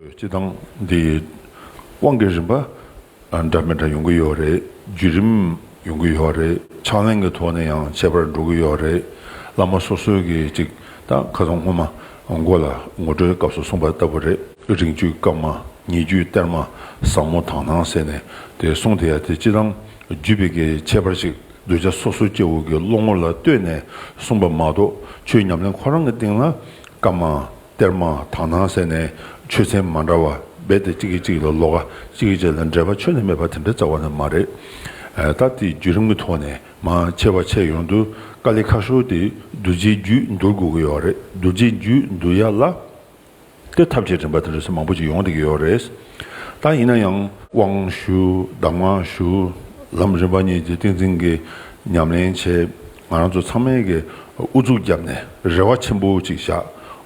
སྤྱི་དང། དེ་དབང་གི་རིམ་པ་འདྲ་མི་འདྲ་ཡོང་གི་ཡོད་རེད། བརྒྱུད་རིམ་ཡོང་གི་ཡོད་རེད། ཕྱག་ལེན་གྱི་ཐོག་ནས་ཡང་ཁྱད་པར་འགྲོ་གི་ཡོད་རེད། བླ་མ་སོ་སོའི་གིས་ཅིག་ད་ཁ་སང་སྔོན་མ་མགོ་ལ་ངོ་སྤྲོད་སྐབས་སུ་གསུངས་པ་ལྟ་བུ་རེད། རིང་བཅུའི་སྐབས་མ་ཉེ་བརྒྱུད་གཏེར་མ་བཟང་མོ་དང་ནང་ཟེར་ནས་དེ་གསུངས་དེ་ཡ་དེ་སྤྱི་དང། བརྒྱུད་པའི་གི་ཁྱད་པར་ཅིག་གདུལ་བྱ་སོ་སོའི་སྐྱེ་བོ་གི་བློ་ངོར་ལ་ལྟོས་ནས་གསུངས་པ་མ་གཏོགས་ཆོས་ཉམས་ལེན་ཁོ་རང་གི་སྟེང་ལ་སྐབས་མ་གཏེར་མ་དག་སྣང་གསལ་ནས་ཆོས་ཚན་མ་འདྲ་བ་སྦས་ཏེ་གཅིག་གིས་གཅིག་ལ་ལོག་གཅིག་གིས་གཅིག་ལ་འདྲེས་པ་ཆོས་ནི་མེད་པ་དེ་འདྲ་རྩ་བ་ནས་མ་རེད། ད་དེའི་བརྒྱུད་རིམ་གྱི་ཐོག་ནས་མ་ཕྱེ་བར་ཕྱེ་ཡོང་དུས་དཀའ་ལས་ཁག་ཤོར་ཏེ་རྡོ་རྗེའི་རྒྱུད་འདུལ་དགོས་ཀྱི་ཡོད་རེད་རྡོ་རྗེའི་རྒྱུད་འདུལ་ཡག་ལ་གཏེར་ཐབས་ཆེ་དྲན་པ་དེ་འདྲ་ཚོད་མང་པོ་ཅིག་ཡོང་བསྡད་ཀྱི་ཡོད་རེད། ད་ཡིན་ན་ཡང། དབང་ཞུ་གདམས་ངག་ཞུ། ལམ་རིམ་པ་གཉིས་ཀྱི་ཏིང་འཛིན་གྱི་ཉམས་ལེན་བྱེད། ང་རང་ཚོ་ཚང་མས་ཀྱིས་ཨུ་ཚུགས་བརྒྱབ་ནས་རེ་བ་ཆེན་པོ་ཅིག་བཞག་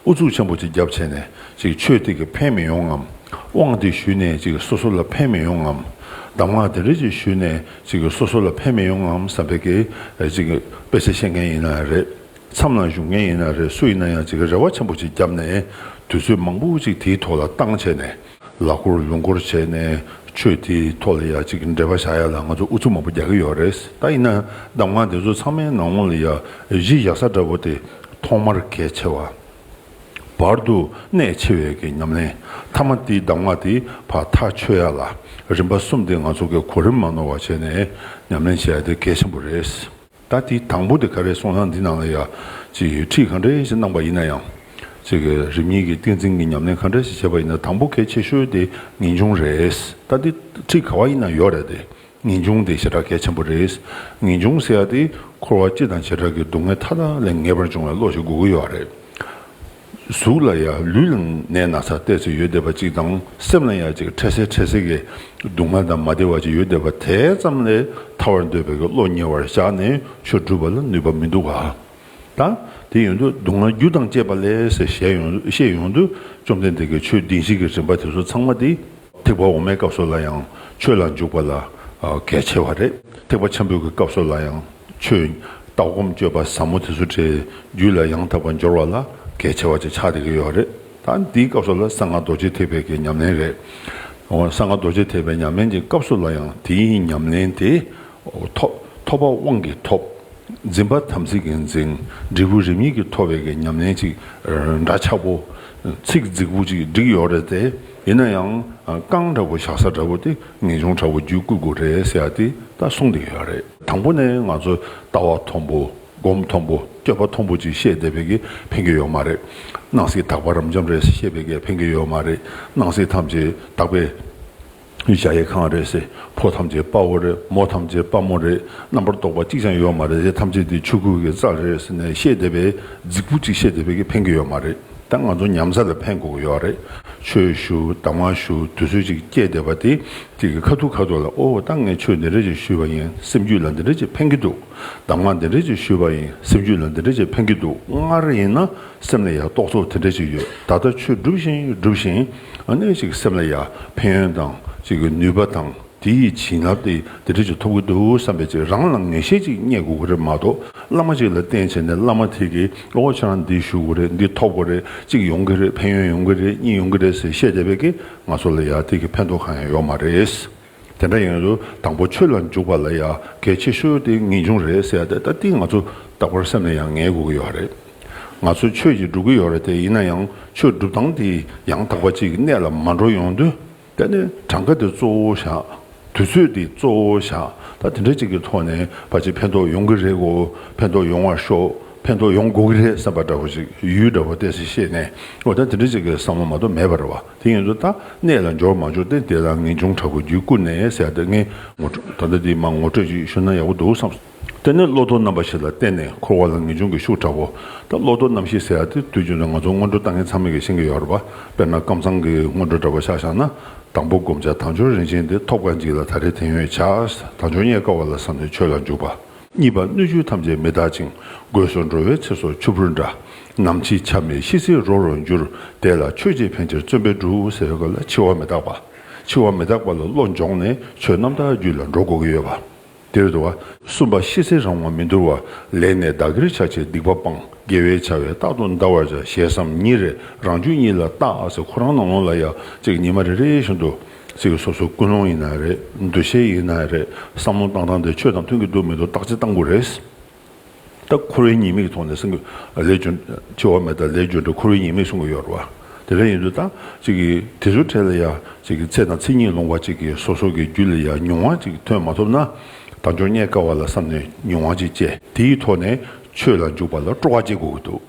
ཨུ་ཚུགས་ཆེན་པོ་ཅིག་བརྒྱབ་བྱས་ནས་ཅིག་ཆོས་དེ་ཀྱིས་ཕན་མི་ཡོང་ངམ། དབང་དེ་ཞུས་ནས་ཅིག་སོ་སོ་ལ་ཕན་མི་ཡོང་ངམ། གདམས་ངག་དེ་འདྲ་ཅིག་ཞུས་ནས་ཅིག་སོ་སོ་ལ་ཕན་མི་ཡོང་ངམ་བསམ་པའི་ཀྱིས་ཅིག་དཔེ་ཆ་ཤེས་མཁན་ཡིན་ན་རེད། མཚམས་ལ་བཞུགས་མཁན་ཡིན་ན་རེད་སུ་ཡིན་ན་ཡང་ཅིག་རེ་བ་ཆེན་པོ་ཅིག་བརྒྱབ་ནས་དུས་ཚོད་མང་པོ་ཅིག་དེའི་ཐོག་ལ་བཏང་བྱས་ནས། ལག་འཁོར་ལུང་འཁོར་བྱས་ནས་ཆོས་དེའི་ཐོག་ལ་ཡ་གཅིག་འབྲེལ་བ་བྱ་ཡ་ལ་ང་ཚོ་ཨུ་ཚུགས་མང་པོ་རྒྱག་གི་ཡོད་རེད་ད་ཡིན་ན་གདམ་ངག་དེ་ཚོ་ཚང་མའི་ནང་ངོ་ལ་ཡ་གཞི་བཞག་ས་འདྲ་བོ་དེ་ཐོག་མར་གལ་ཆེ་བ། བར་དུ་གནད་ཆེ་བའི་གི་ཉམས་ལེན་ཐ་མ་དེའི་གདམ་ངག་དེ་བར་ཐག་ཆོད་ཡ་ལ་རིམ་པ་གསུམ་དེ་ང་ཚོ་གི་གོ་རིམ་མ་ནོར་བ་བྱས་ནས་ཉམས་ལེན་བྱ་ཡ་དེ་གལ་ཆེན་པོ་རེད། ད་དེའི་དང་པོ་དེ་ག་རེ་སོང་ཡང་འདི་ནང་ལ་ཡ། ཁྲིད་གང་འདྲའི་ཞིག་གནང་པ་ཡིན་ན་ཡང། རིམ་གཉིས་ཀྱི་ཏིང་འཛིན་གྱི་ཉམས་ལེན་གང་འདྲ་ཞིག་བྱས་པ་ཡིན་ན་དང་པོ་གལ་ཆེ་ཤོས་དེ་ངེས་འབྱུང་རེད། ད་དེ་ཁྲིད་ག་བ་ཡིན་ན་ཡོད་རེད་དེ། ངེས་འབྱུང་དེ་ཞེ་དྲག་གལ་ཆེན་པོ་རེད། ངེས་འབྱུང་ཟེར་ཡ་དེ་འཁོར་བ་སྤྱི་དང་བྱེ་བྲག་གི་སྡུག་བསྔལ་མཐའ་དག་ལས་ངེས་པར་འབྱུང་བའི་བློ་ཞིག་དགོས་ཀྱི་ཡོད་རེད། གཟུགས་ལ་ཡང་ལུས་ལ་ནད་ན་ཚ་བརྟས་ཚེ་ཡོད་བསྡད་པ་གཅིག་དང་སེམས་ལ་ཡང་ཅིག་ཁྲེལ་སེལ་ཁྲེལ་སེལ་གྱི་སྡུག་བསྔལ་དང་མ་བདེ་བ་ཅིག་ཡོད་བསྡད་པ་དེ་ཙམ་ལས་ཐར་བར་འདོད་པའི་བློ་ཉེ་བར་བཞག་ནས་ཆོས་བསྒྲུབ་པ་ལ་ནུས་པ་མི་འདུག་ག་ད་དེ་ཡོང་དུས་སྡུག་བསྔལ་རྒྱུ་དང་བཅས་པ་ལས་ཟེར་བཤད་ཡོང་དུས་བཅོམ་ལྡན་འདས་ཀྱིས་ཆོས་སྡིངས་ཤིག་གི་རིམ་པ་དེ་ཚོ་ཚང་མ་དེ་ཐེག་པ་འོག་མའི་སྐབས་སུ་ལ་ཡང་ཆོས་ལ་འཇུག་པ་ལ་གལ་ཆེ་བ་རེད། ཐེག་པ་ཆེན་པོའི་གི་སྐབས་སུ་ལ་ཡང་ཆོས་ལྟ་སྒོམ་སྤྱོད་པ་ཟབ་མོ་དེ་ཚོ་དེའི་རྒྱུད་ལ་ཡང་དག་པར་འབྱོར་བ་ལ་གལ་ཆེ་བ་ཅིག་ཆགས་བསྡད་ཀྱི་ཡོད་རེད། ད་འདིའི་སྐབས་སུ་ལ་གསང་སྔགས་རྡོ་རྗེ་ཐེག་པའི་གི་ཉམས་ལེན་རེད། གསང་སྔགས་རྡོ་རྗེ་ཐེག་པའི་ཉམས་ལེན་གྱི་སྐབས་སུ་ལ་ཡང་དེའི་ཉམས་ལེན་དེ་ཐོབ་པ་དབང་གིས་ཐོབ། འཛིན་པ་དམ་ཚིག་གིས་འཛིན། འབྲས་བུ་རིམ་གཉིས་ཀྱིས་ཐོབ་པའི་གི་ཉམས་ལེན་ཅིག་འདྲ་ཆགས་པོ། ཚིག་རྫིག་པོ་ཅིག་བསྒྲིགས་ཡོད་རེད་དེ། ཡིན་ན་ཡང་རྐང་འདྲ་པོ་བཞག་ས་འདྲ་པོ་དེ་ངེས་འབྱུང་འདྲ་པོ་བརྒྱུད་བསྐུལ་དགོས་རེད་ཟེར་ཡ་དེ་ད་གསུངས་བསྡད་ཡོད་རེད། དང་པོ་ནས་ང་ཚོ་ལྟ་བ་མཐོང་པོ་སྒོམ་མཐོང་པོ་སྐྱོད་པ་མཐོང་པོ་ཅིག་བཤད་བསྡད་པའི་གེ་ཕན་གེ་ཡོད་མ་རེད། སྣང་སྲིད་དག་པ་རབ་འབྱམས་རེད་བཤད་པའི་གེ་ཕན་གེ་ཡོད་མ་རེད། སྣང་སྲིད་ཐམས་ཅད་དག་པའི་གཞལ་ཡས་ཁང་རེད་ཟེར་ཕོ་ཐམས་ཅད་དཔའ་བོ་རེད་མོ་ཐམས་ཅད་དཔའ་མོ་རེད་རྣམ་པར་རྟོག་པ་གཅིག་ཅང་ཡོད་མ་རེད་དེ་ཐམས་ཅད་དེ་ཆོས་སྐུ་གེ་རྩ་རེད་ཟེར་ནས་བཤད་བསྡད་པའི་རྫིག་པོ་ཅིག་བཤད་བསྡད་པའི་གེ་ཕན་གེ་ཡོད་མ་རེད། ད་ང་ཚོ་ཉམས་ས་ལ་ཕན་དགོས་ཀྱི་ཡོད་རེད། ཆོས་ཞུ་དང་མ་ཞུ་དུས་ཚོད་ཅིག་སྐྱེལ་བསྡད་པ་དེ་ཅིག་གི་ཁ་ཐུག་ཁ་ཐུག་ལ་ཨོ་ད་ངས་ཆོས་འདི་འདྲ་ཅིག་ཞུས་པ་ཡིན་སེམས་རྒྱུད་ལ་འདི་འདྲ་ཅིག་ཕན་གྱི་འདུག་དང་མ་འདི་འདྲ་ཅིག་ཞུས་པ་ཡིན་སེམས་རྒྱུད་ལ་འདི་འདྲ་ཅིག་ཕན་གྱི་འདུག་སྔར་ཡིན་ན་སེམས་ལ་ཡང་རྟོག་ཚོགས་དེ་འདྲ་ཅིག་ཡོད་ད་ལྟ་ཆོས་སྒྲུབ་བཞིན་སྒྲུབ་བཞིན་ཨ་ནས་ཅིག་སེམས་ལ་ཡང་ཕན་ཡོན་དང་ཅིག་ནུས་པ་དང། དེ་ཡི་བྱིན་རླབས་ཏེ་དེ་འདྲ་ཅིག་ཐོབ་ཀྱི་འདུག་བསམ་པའི་ཚེ་རང་ལ་ངེས་ཤེས་ཅིག་རྙེད་དགོས་ཀྱི་རེད་མ་གཏོགས་བླ་མ་ཅིག་ལ་བསྟེན་བྱས་ནས་བླ་མ་དེ་གིས་ཨོ་ཁྱེད་རང་འདི་ཞུ་དགོས་རེད་འདི་ཐོབ་དགོས་རེད་གཅིག་ཡོང་གི་རེད་ཕན་ཡོན་ཡོང་གི་རེད་གཉིས་ཡོང་གི་རེད་ཟེར་བཤད་བསྡད་པས་ཀྱི་ང་ཚོ་ལ་ཡང་དེ་གི་ཕན་ཐོགས་གང་ཡང་ཡོད་མ་རེད། དེ་འདྲ་ཡིན་དུས་དང་པོ་ཆོས་ལ་འཇུག་པ་ལ་ཡང་གལ་ཆེ་ཤོས་དེ་ངེས་འབྱུང་རེད་ཟེར་ཏེ་ད་ལྟིང་ང་ཚོ་རྟག་པར་སེམས་ལ་ཡང་ངེས་དགོས་ཀྱི་ཡོད་རེད། ང་ཚོ་ཆོས་ཀྱིས་སྒྲུབ་ཀྱི་ཡོད་རེད་དེ་ཡིན་ན་ཡང་ཆོས་སྒྲུབ་སྟངས་དེ་ཡང་དག་པ་ཅིག་གི་གནད་ལ་མ་འགྲོ་ཡོང་དུས། དེ་ནས་གྲངས་ཀ་དེ་གཙོ་བོ་བཞག། དུས་ཚོད་དེ་གཙོ་བོ་བཞག་ད་དེ་འདྲ་གཅིག་གི་ཐོག་ནས་བར་ཆད་ཕན་ཐོགས་ཡོང་གི་རེད་གོ་ཕན་ཐོགས་ཡོང་བར་ཤོག་ཕན་ཐོགས་ཡོང་དགོས་ཀྱི་རེད་བསམ་པ་འདྲ་བོ་ཞིག་ཡུལ་འདྲ་བོ་བལྟས་ཚེ་ཤེས་ནས་འོ་ད་དེ་འདྲ་གཅིག་གི་བསམ་བློ་མ་གཏོགས་མེད་པར་བ་དེ་ཡིན་དུ་ད་གནས་ལ་འབྱོར་མ་འབྱོར་ཏེ་དེ་ལ་ངེས་འབྱུང་དྲག་པོ་རྒྱུད་བསྐུར་ནས་ཟེར་ད་ངས་ངོ་སྤྲོད་ད་ལྟ་དེ་མ་ངོ་སྤྲོད་ཅིག་ཞུ་ན་ཡག་པོ་འདུག་བསམ། དེ་ནི་བློ་ལྡོག་རྣམ་པ་ཞིག་ལ་བརྟེན་ནས་འཁོར་བ་ལ་ངེས་འབྱུང་གི་ཤུགས་དྲག་པོ་དང་བློ་ལྡོག་རྣམ་ཤེས་ཟེར་ཡ་དེ་དུས་རྒྱུན་དུ་ང་ཚོ་སྔོན་འགྲོ་ལྟ་ངན་ཚང་མེད་ཀྱིས་ཤེས་ཀྱི་ཡོད་རེད་པ་དཔེར་ན་ཀམ་ཚང་གི་སྔོན་འགྲོ་འདྲ་པོ་ཤག་བཞག་ན་དང་པོ་བསྒོམ་བྱ་དང་སྦྱོར་རིན་ཆེན་དེ་ཐོབ་དཀའ་འཇིག་ལ་ད་རེས་དེང་ཡོད་བྱས་དང་སྦྱོར་རྙེད་དཀའ་བ་ལ་བསམ་ནས་ཆོས་ལ་འཇུག་པ། གཉིས་པ་སྣོད་བཅུད་ཐམས་ཅད་མི་རྟག་ཅིང་དགོས་སུ་འགྲོ་བའི་ཚེ་སོར་ཆུ་བུར་འདྲ། ནམ་འཆི་ཆ་མེད་ཤི་ཚེ་རོ་རོ་འགྱུར་དེ་ལ་ཆོས་རྗེ་ཕན་ཕྱིར་བརྩོན་པས་འགྲུབ་ཟེར་བའི་སྐབས་ལ་འཆི་བ་མི་རྟག་པ། འཆི་བ་མི་རྟག་པ་ལ་བློ་འཇོག་ནས་ཆོས་རྣམ་དག་རྒྱུད་ལ་འགྲོ་དགོས་ཀྱི་ཡོད་པ། འདིར་དུ་བ་གསུམ་པ་ཤི་ཚེ་རང་ངོ་མི་འདོར་བ་ལེགས་ནས་བདག་གིར་བྱ་བྱེད་སྡིག་པ་སྤང་དགེ་བའི་བྱ་བས་རྟག་ཏུ་འདའ་བར་བྱ་ཞེས་སམ་ཉིན་རེ་རང་བཅུ་གཉིས་ལ་བརྟག་ཨ་ཚེ་ཁོ་རང་ནང་ལོང་ལ་ཡ་གཅིག་ཉི་མ་རེ་རེ་བཞིན་དུ་ཚིག་སོ་སོ་ཀུན་སློང་ཡིན་ན་རེད་འདུ་ཤེས་ཡིན་ན་རེད་བསམ་བློ་བཏང་སྟངས་དེ་ཆོས་དང་མཐུན་གྱི་འདུག་མི་འདུག་བརྟག་དཔྱད་བཏང་དགོས་རེད། ལྟ། འཁོར་བའི་ཉེས་དམིགས་མཐོང་ནས་སེམས། ལས་རྒྱུ་འབྱེད་བ་མེད་ལྟ་ལས་རྒྱུ་འབྲས་འཁོར་བའི་ཉེས་དམིགས་སྲུང་གི་ཡོད་རེད་བ། དེ་འདྲ་ཡིན་དུས་ལྟ། དེ་ཚོའི་གྲས་ལ་ཡང། ཚེ་དང་ཚེ་ཉིད་ལོང་བ་གཅིག་གིས་སོ་སོ་གི་རྒྱུད་ལ་ཡང་ཉུང་བ་གཅིག་ཐོན་མ་ཐུབ་ན། དང་ཅོ་རྙེད་དཀའ་བ་ལ་བསམ་ནས་ཉུང་བ་གཅིག་སྤྱད་དེའི་ཐོག་ནས་ཆོས་ལ་འཇུག་པ་ལ་སྤྲོ་བ་སྐྱེ་དགོས་ཀྱི་འདུག།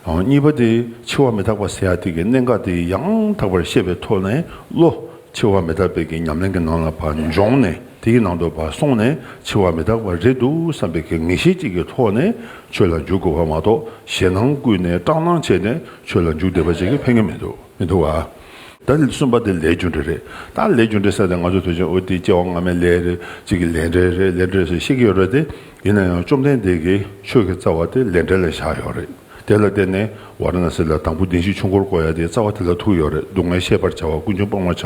གཉིས་པ་དེ་འཆི་བ་མི་རྟག་པ་སེ་ཡ་ཐིག་གི་གནད་འགག་དེ་ཡང་དག་པར་ཤེས་པའི་ཐོག་ནས་བློ། འཆི་བ་མི་རྟག་པའི་གི་ཉམས་ལེན་གྱི་ནང་ལ་བ་འབྱོངས་ནས་དེའི་ནང་དུ་བ་སོང་ནས་འཆི་བ་མི་རྟག་པ་རེད་འདུག་བསམ་པའི་གི་ངེས་ཤེས་གཅིག་གི་ཐོག་ནས་ཆོས་ལ་འཇུག་དགོས་བ་མ་གཏོགས་ཞེ་སྣང་བརྐུས་ནས་སྐྲག་སྣང་བྱས་ནས་ཆོས་ལ་འཇུག་བསྡད་པ་ཅིག་གི་ཕན་ངེས་མི་འདུག་བ། ད་གསུམ་པ་དེ་ལས་རྒྱུ་འབྲས་རེད་ད་ལས་རྒྱུ་འབྲས་ཟེར་ཏེ་ང་ཚོ་དུས་ཆེན་ཨོ་ཏི་སྐྱེ་བ་སྔ་མའི་ལས་རེད་ཅིག་གི་ལས་འབྲས་རེད་ལས་འབྲས་སུ་ཤེས་ཀྱི་ཡོད་རེད་དེ། ཡིན་ན་ཡང་བཅོམ་ལྡན་འདས་ཀྱིས་ཆོས་ཀྱི་རྩ་བ་དེ་ལས་འབྲས་ལ་བཞག་ཡོད་རེད། དེ་ལ་བརྟེན་ནས་ཝར་ན་སི་ལ་དང་པོ་གདིང་བཞི་ཆུ་འགོར་བསྐོ་ཡ་དེའི་རྩ་བ་དེ་ལ་ཐུག་ཡོད་རེད་སྡུག་བསྔལ་ཤེས་པར་བྱ་བ་ཀུན་འབྱུང་སྤང་བར་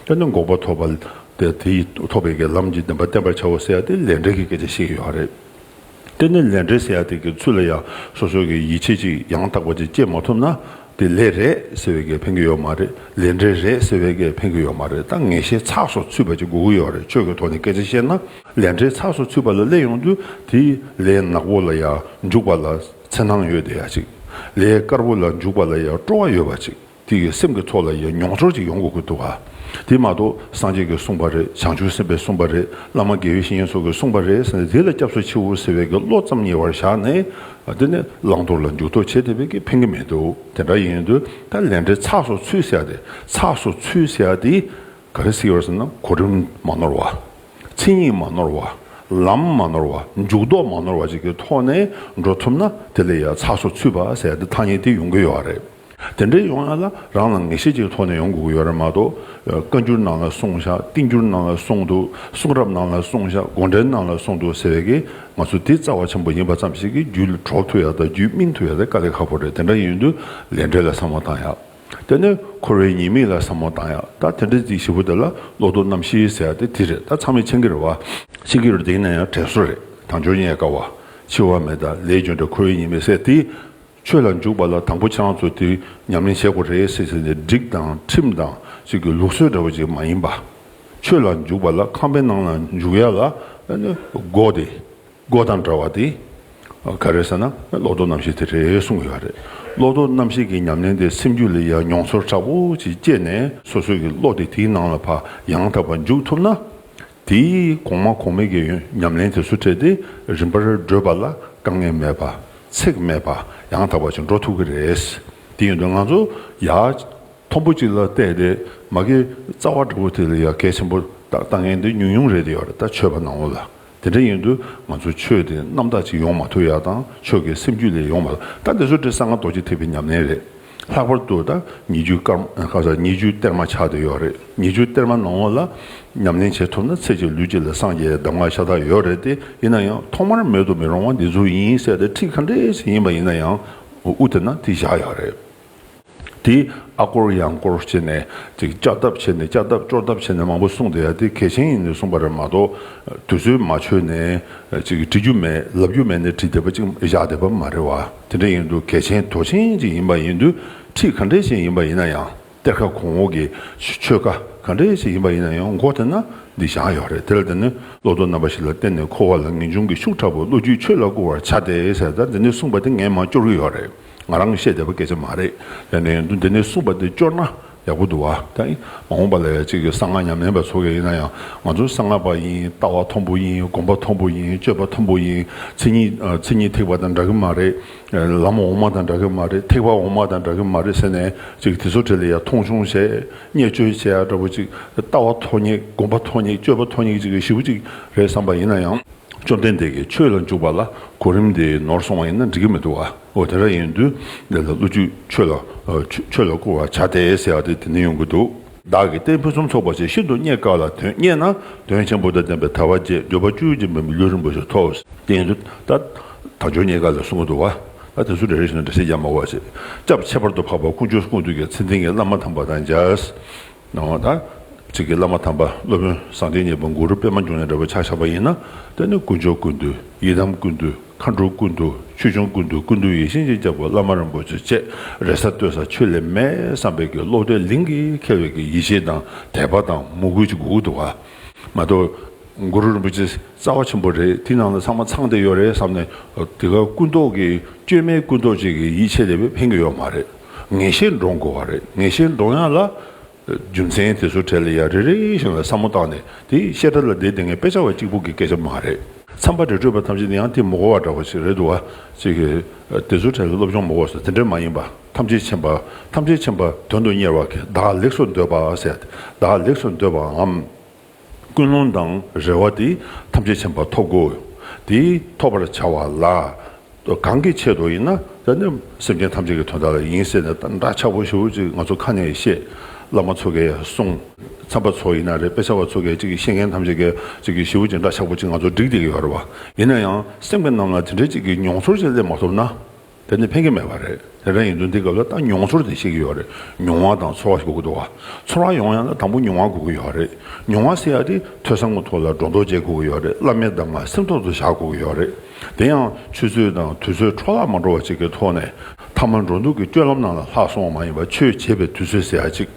བྱ་བ། དཔེར་ན་འགོག་པ་ཐོབ་པ། དེ་དེ་ཡིས་ཐོབ་པའི་གེགས་ལམ་གྱི་བདེན་པ་བསྟན་པར་བྱའོ་ཟེར་ཡ་དེ་ལས་འབྲས་ཀྱི་སྐད་ཆ་བཤད་ཀྱི་ཡོད་རེད། དེ་ནི་ལས་འབྲས་ཟེར་ཡ་དེ་གི་ཚུལ་ལ་ཡང་སོ་སོ་གི་ཡིད་ཆེས་ཅིག་ཡང་དག་པ་དེ་སྐྱེས་མ་ཐུབ་ན་དེ་ལས་རེད་ཟེར་བའི་གེགས་འཕེན་གྱི་ཡོད་མ་རེད་ལས་འབྲས་རེད་ཟེར་བའི་གེགས་འཕེན་གྱི་ཡོད་མ་རེད་ད་ངེས་ཤེས་ཚགས་སོགས་ཚུད་པ་ཅིག་དགོས་ཀྱི་ཡོད་རེད་ཆོས་ཀྱི་ཐོག་ནས་སྐད་ཆ་བཤད་ན། ལས་འབྲས་ཚགས་སུ་ཚུད་པ་ལ་སླེབས་ཡོང་དུས་དེ་ལས་ནག་པོ་ལ་ཡར་འཇུག་པ་ལ་འཚེར་སྣང་ཡོད་བསྡད་ཡ་ཅིག་ལས་དཀར་པོ་ལ་འཇུག་པ་ལ་ཡར་སྤྲོ་བ་ཡོད་པ་ཅིག་དེ་གི་སེམས་ཀྱི་ཚོགས་ལ་ཡར་མྱོང་ཚོར་ཅིག་ཡོང་དགོས་ཀྱི་འདུག་ག་དེ་མ་གཏོགས་སངས་རྒྱས་ཀྱིས་གསུངས་པ་རེད་བྱང་ཆུབ་སེམས་དཔས་གསུངས་པ་རེད་བླ་མ་དགེ་བའི་བཤེས་གཉེན་སོགས་ཀྱིས་གསུངས་པ་རེད་ཟེར་ནས་དེ་ལ་སྐྱབས་སུ་མཆི་འོ་ཟེར་བའི་གི་བློ་ཙམ་ཉེ་བར་བཞག་ནས་དེ་ནི་བླང་དོར་ལ་འཇུག་དོགས་བྱེད་དེ་བས་ཀྱི་ཕན་གྱི་མི་འདུག་དེ་འདྲ་ཡིན་དུས་ད་ལས་འབྲས་ཚགས་སུ་ཚུད་ཟེར་ཡ་དེ་ཚགས་སུ་ཚུད་ཟེར་ཡ་དེ་ག་རེ་སྲིད་ཡོད་ཟེར་ན་གོ་རིམ་མ་ནོར་བ། མཚན་ཉིད་མ་ནོར་བ། ལམ་མ་ནོར་བ། འཇུག་ལྡོག་མ་ནོར་བ་བཅས་ཀྱི་ཐོག་ནས་འགྲོ་ཐུབ་ན་དེ་ལས་ཡང་ཚགས་སུ་ཚུད་པ་ཟེར་ཏེ་ཐ་སྙད་དེ་ཡོང་གི་ཡོད་པ་རེད། དེ་འདྲའི་ཡོང་ཡ་ལ་རང་ལ་ངེས་ཤེས་ཀྱི་ཐོག་ནས་ཡོང་དགོས་ཀྱི་ཡོད་རེད་མ་གཏོགས་བཀའ་འགྱུར་ནང་ལ་གསུངས་བཞག་ཏིང་འགྱུར་ནང་ལ་གསུངས་འདུག་གསུང་རབ་ནང་ལ་གསུངས་བཞག་དགོངས་འགྲེལ་ནང་ལ་གསུངས་འདུག་ཟེར་བའི་གི་ང་ཚོ་དེ་རྩ་བ་ཆེན་པོ་ཡིན་པ་ཙམ་ཞིག་གི་རྒྱུད་གྲོགས་ཐུབ་ཡ་དང་རྒྱུད་སྨིན་ཐུབ་ཡ་དེ་དཀའ་ལས་ཁག་པོ་རེད་དེ་འདྲ་ཡིན་དུས་ལས་འབྲས་ལ་བསམ་བློ་བཏང་ཡ། དེ་ནས་འཁོར་བའི་ཉེས་དམིགས་ལ་བསམ་མོ་བཏང་ཡང་ད་དེ་འདྲའི་རྩིས་ཞིབ་པོ་དེ་ལ་ལོག་རྟོག་རྣམ་ཤེས་ཟེར་བ་དེ་དེ་རེད་ད་ཚང་མས་མཆན་འགེར་བ་ཕྱི་གིར་འདེགས་ན་ཡང་དྲན་སོ་རེད་དང་འཇོག་ཉན་དཀའ་བ་འཆི་བ་མེད་ད་ལས་གྱོན་དྲ་འཁོར་བའི་ཉེས་དམིགས་བསལ་ཏེ་ཆོས་ལ་འཇུག་པ་ལ་དང་པོ་ཆང་ཚོ་དེ་ཉམས་ལེན་བྱེད་དགོ་རེད་ཟེར་བྱས་ནས་སྒྲིག་དང་ཁྲིམས་དང་ཅིག་གི་ལུགས་སྲོལ་འདྲ་བོ་ཅིག་མ་ཡིན་པ། ཆོས་ལ་འཇུག་པ་ལ་ཁང་པའི་ནང་ལ་འཇུག་ཡ་ལ་འགོག་དེ་སྒོ་དང་འདྲ་བ་དེ་ག་རེད་ཟེར་ན་བློ་ལྡོག་རྣམ་ཤེས་དེ་རེད་གསུངས་ཡོད་རེད། བློ་ལྡོག་རྣམ་ཤེས་ཀྱི་ཉམས་ལེན་དེ་སེམས་རྒྱུད་ལས་ཡར་མྱོང་ཚོར་དྲག་པོ་ཞིག་སྐྱེས་ནས་སོ་སོས་ཀྱི་བློ་དེ་དེའི་ནང་ལ་བག་ཡངས་དག་པར་འཇུག་ཐུབ་ན། དེས་གོང་མ་གོང་མའི་ཀྱི་ཉམས་ལེན་དེ་སུ་འཕྲད་དེ་རིམ་པར་བགྲོད་པ་ལ་དཀའ་ངལ་མེད་པ་ཚེགས་མེད་བག་ཡངས་དག་པ་ཞིག་འགྲོ་ཐུབ་ཀྱི་རེད། དེ་ཡིན་དུས་ང་ཚོ་ཡར་མཐོན་པོ་ཅིག་ལ་བལྟས་ཏེ་མ་གི་རྩ་བ་འདྲ་པོ་དེ་ལ་ཡར་གལ་ཆེན་པོ་དང་དཀའ་ངལ་འདི་ཉུང་ཉུང་རེད་དེ་ཡོད་རེད་ད་ཆོས་པ་ནང་བོ་ལ་དེ་འདྲ་ཡིན་དུས་ང་ཚོའི་ཆོས་དེ་རྣམ་དག་ཅིག་ཡོང་མ་ཐུབ་ཡག་དང་ཆོས་ཀྱི་སེམས་རྒྱུད་ལས་ཡོང་མ་ཐུབ་ད་འདི་ཚོ་འདྲེ་ས་ང་རྡོ་རྗེ་ཐེག་པའི་ཉམས་ལེན་རེད་ལྷག་པར་དུ་ད་ཉི་རྒྱུའི་སྐར་མ་ཁ་ཟ་ཉི་རྒྱུའི་གཏེར་མ་ཆགས་བསྡད་ཡོད་རེད་ཉི་རྒྱུའི་གཏེར་མ་ནང་ལ་ཉམས་ལེན་བྱེད་ཐུབ་ན་ཚེ་གཅིག་ལུས་གཅིག་ལ་སངས་རྒྱས་གདམས་ངག་ཤ་སྟག་ཡོད་རེད་དེ་ཡིན་ན་ཡང་ཐོག་མར་མེད་དུ་མི་རུང་བ་འདི་ཚོ་ཡིན་གསལ་ཏེ་ཁྲིགས་ཁ་འདྲེ་ཞིག་ཡིན་པ་ཡིན་ན་ཡང་དབུ་དེ་ན་དེ་བཞག་ཡག་རེད། དེས་ཨ་སྐོར་ཡང་སྐོར་བྱས་ནས་ཅིག་ལྕགས་བརྡབ་བྱས་ནས་ལྕགས་བརྡབ་ཅོག་བརྡབ་བྱས་ནས་མང་པོ་གསུངས་དེ་ཡ་དེ་གལ་ཆེན་ཡིན་ནས་གསུངས་པ་རེད་མ་གཏོགས་དུས་ཚོད་མ་ཆོད་ནས་ཅིག་བྲི་རྒྱུ་མེད་ལབ་རྒྱུ་མེད་ནས་བྲིས་བསྡད་པ་ཅིག་བཞག་བསྡད་པ་མ་རེད་བ་དེ་འདྲ་ཡིན་དུས་གལ་ཆེན་དོ་ཆེན་ཅིག་ཡིན་པ་ཡིན་དུས་ཁྲིད་ག་འདྲས་ཤིག་ཡིན་པ་ཡིན་ན་ཡང་གཏེར་ཁ་གོང་འོག་གི་ཆོས་ཁ་ག་འདྲས་ཤིག་ཡིན་པ་ཡིན་ན་ཡང་མགོ་དེ་ན་འདི་བཞག་ཡོད་རེད་དེ་ལ་དེ་ནི་བློ་སྟོབས་རྣམ་པ་ཞིག་ལ་བརྟེན་ནས་འཁོར་བ་ལ་ངེས་འབྱུང་གི་ཤུགས་དྲག་པོས་བློ་རྒྱུད་ཆོས་ལ་བསྐུར་བར་བྱ་སྟེ་ཟེར་ད་དེ་འདྲས་གསུངས་པ་དེ་ངས་མ་བསྐྱོར་གྱི་ཡོད་རེད། ང་རང་བཤད་བདེ་བ་སྐད་ཆ་མ་རེད་ཡ་ནའི་འདུག་འདི་ནས་གསུངས་པ་འདི་སྐྱོར་ན་ཡག་པོ་འདུག་བ་ད་ཨི་མ་འོངས་པ་ལ་ཡ་གཅིག་གིས་གསང་སྔགས་ཉམས་ལེན་པ་ཚོ་ག་ཡིན་ན་ཡང་ང་ཚོ་གསང་སྔགས་པ་ཡིན་ལྟ་བ་མཐོན་པོ་ཡིན་དགོངས་པ་མཐོན་པོ་ཡིན་སྤྱོད་པ་མཐོན་པོ་ཡིན་མཚན་ཉིད་ཐིག་པ་དང་འདྲ་གི་མ་རེད་ལམ་འོག་མ་དང་འདྲ་གི་མ་རེད་ཐིག་པ་འོག་མ་དང་འདྲ་གི་མ་རེད་ཟེར་ནས་གཅིག་དེ་ཚོ་གྲས་ལ་ཡ་མཐོང་ཆུང་བྱས་བརྙས་བཅོས་བྱས་ཡ་འདྲ་པོ་གཅིག་ལྟ་བ་མཐོ་བརྙེགས་དགོངས་པ་མཐོ་བརྙེགས་སྤྱོད་པ་མཐོ་བརྙེགས་གཅིག་ཞིབ་གཅིག་རེད་བསམ་པ་ཡིན་ན་ཡང། བཅོམ་ལྡན་འདས་ཀྱིས་ཆོས་ལ་འཇུག་པ་ལ་གོ་རིམ་དེ་ནོར་སོང་བ་ཡིན་ན་འགྲིག་གི་མི་འདུག་ཨོ་དེ་འདྲ་ཡིན་དུས་འདི་ལ་བློ་རྒྱུད་ཆོས་ལ་ཆོས་ལ་བཀུར་བར་བྱ་སྟེ་ཟེར་བ་དེ་དེ་ནས་ཡོང་གི་འདུག། བདག་གིས་བསྟན་ཕུན་སུམ་ཚོགས་པ་ཞིག་ཤིན་ཏུ་རྙེད་དཀའ་ལ་དོན་རྙེད་ན་དོན་ཆེན་པོ་དང་ལྡན་པའི་ཐར་བ་རྗེས་ཟློས་པ་བཅུའི་རྗེ་འབུམ་པའི་གླུ་རིང་པོ་ཞིག་ཐོག་སྟེང་དུ་ད་དང་ཇོ་རྙེད་དཀའ་ལས་གསུང་གི་འདུག་ད་དེ་ཚོ་རེ་རེ་བཞིན་དུ་འདྲ་བཤད་རྒྱག་མ་འོ་ཅེས་སྐྱབས་ཁྱད་པར་དུ་འཕགས་པ་སྐུ་མཆོག་ཀུན་འདུས་ཀྱི་མཚན་ལྡན་གྱི་བླ་མ་དམ་པ་དང་མཇལ། གནང་བ་དང། གཅིག་གིས་བླ་མ་དམ་པ་སློབ་དཔོན་བཟང་བསྟན་གཉིས་པ་གུ་རུ་པདྨ་འབྱུང་གནས་འདྲ་བར་ཕྱག་བཞག་པ་ཡིན་ན་དེ་ནི་དཀོན་མཆོག་ཀུན་འདུས་ཡི་དམ་ཀུན་འདུས་མཁའ་འགྲོ་ཀུན་འདུས་ཆོས་འབྱུང་ཀུན་འདུས་ཀུན་འདུས་ཡེ་ཤེས་སྦྱིན་བྱ་བ་བླ་མ་རིན་པོ་ཆེ་བཅས་རེ་ས་ལྟོས་ས་ཆོས་ལས་མེད་བསམ་པའི་གྱི་བློ་བྲལ་ལིང་གིས་ཁེལ་བའི་གྱི་ཡིད་ཆེས་དང་དད་པ་དང་མོས་གུས་ཀྱི་གུ་གུ་དུ་བ། མ་གཏོགས་གུ་རུ་རིན་པོ་ཆེ་རྩ་བ་ཆེན་པོ་རེད་དེའི་ནང་ལ་ཚང་མ་ཚང་སྟེ་ཡོད་རེད་བསམ་ནས་དེ་ག་ཀུན་རྟོག་གི་བཅོས་མའི་ཀུན་རྟོག་ཅིག་གི་ཡིད་ཆེས་ལས་ཕན་གི་ཡོད་མ་རེད། ངེས་ཤེས་འདྲོངས་དགོས་བ་རེད་ངེས་ཤེས་འདྲོངས་ཡག་ལ། རྒྱུ་མཚན་དེ་ཚོ་གྲས་ལ་ཡ་རེ་རེ་བཞིན་ལ་བསམ་བློ་བཏང་ནས་དེ་བཤད་གྲྭ་ལ་བསྡད་དེ་ངས་དཔེ་ཆ་བ་གཅིག་པུ་གི་སྐད་ཆ་མ་རེད། མཚམས་པ་རེ་སྤྲོད་པ་ཐམས་ཅད་དེ་ཡང་དེ་མོ་གོ་བ་འདྲ་བ་ཞིག་རེད་འདུག་བ་ཅིག་གིས་དེ་ཚོ་གྲས་ལ་སློབ་སྦྱོང་མོ་གོ་སོ་དེ་འདྲས་མ་ཡིན་པ་ཐམས་ཅད་མཁྱེན་པ་ཐམས་ཅད་མཁྱེན་པ་དོན་དུ་གཉེར་བ་གིས་བདག་ལེགས་སོ་འདོད་པ་ཟད་བདག་ལེགས་སོ་འདོད་པའམ། ཀུན་སློང་དང་རེ་བ་དེ་ཐམས་ཅད་ཕྱིན་པ་ཐོབ་གོ། དེ་ཐོབ་པར་བྱ་བ་ལ། གང་གི་ཆེད་དུ་ཡིན་ན། སེམས་ཅན་ཐམས་ཅད་ཀྱི་དོན་དག་ལ་ཡིན་ཟེར་ནས་འདྲ་ཆགས་པོ་ཞིག་ཅིག་ང་ཚོ་ཁ་ནས་བཤད། བླ་མ་ཚོ་གས་གསུངས། ཚངས་པ་ཚོ་ཡིན་ན་རེད་དཔེ་ཆ་བ་ཚོ་གས་ཅིག་ཤེས་མཁན་ཐམས་ཅད་གས་ཅིག་གིས་ཞིབ་ཅིག་འདྲ་ཆགས་པོ་ཅིག་ང་ཚོ་བསྒྲིགས་བསྡད་ཡོད་རེད་བ། ཡིན་ན་ཡང་སེམས་ཅན་རྣམས་ལ་དེ་འདྲའི་ཅིག་གི་མྱོང་ཚོར་ཅིག་སླེབས་མ་ཐུབ་ན། དེ་ནི་ཕན་གྱི་མེད་པ་རེད་དེ་འདྲ་ཡིན་དུས་འདི་སྐབས་ལ་ལྟ་མྱོང་ཚོར་དེ་ཤེས་ཀྱི་ཡོད་རེད་མྱོང་བ་དང་ཚོར་བ་ཞིག་དགོས་ཀྱི་འདུག་བ་ཚོར་བ་ཡོང་ཡང་ལ་དང་པོ་མྱོང་བ་དགོས་ཀྱི་ཡོད་རེད་མྱོང་བ་སེལ་ཡ་དེ་ཐོས་བསམ་གོ་ཐོས་ལ་སྒྲོ་འདོགས་བཅད་དགོས་ཀྱི་ཡོད་རེད་བླ་མའི་གདམས་ངག་སེམས་ཐོག་ཏུ་བཞག་དགོས་ཀྱི་ཡོད་རེད་དེ་ཡང་ཆུ་ཚོད་དང་དུས་ཚོད་འཕྲོ་བརླག་མ་འགྲོ་བ་ཅིག་གི་ཐོག་ནས་ཐ་མ་འགྲོ་འདུག་གི་སྤྱོད་ལམ་ནང་ལ་ལྷག་སོང་བ་མ་ཡིན་པ་ཆོས་བྱེད་པའི་དུས་ཚོད་ཟེར་ཡ་ཅིག་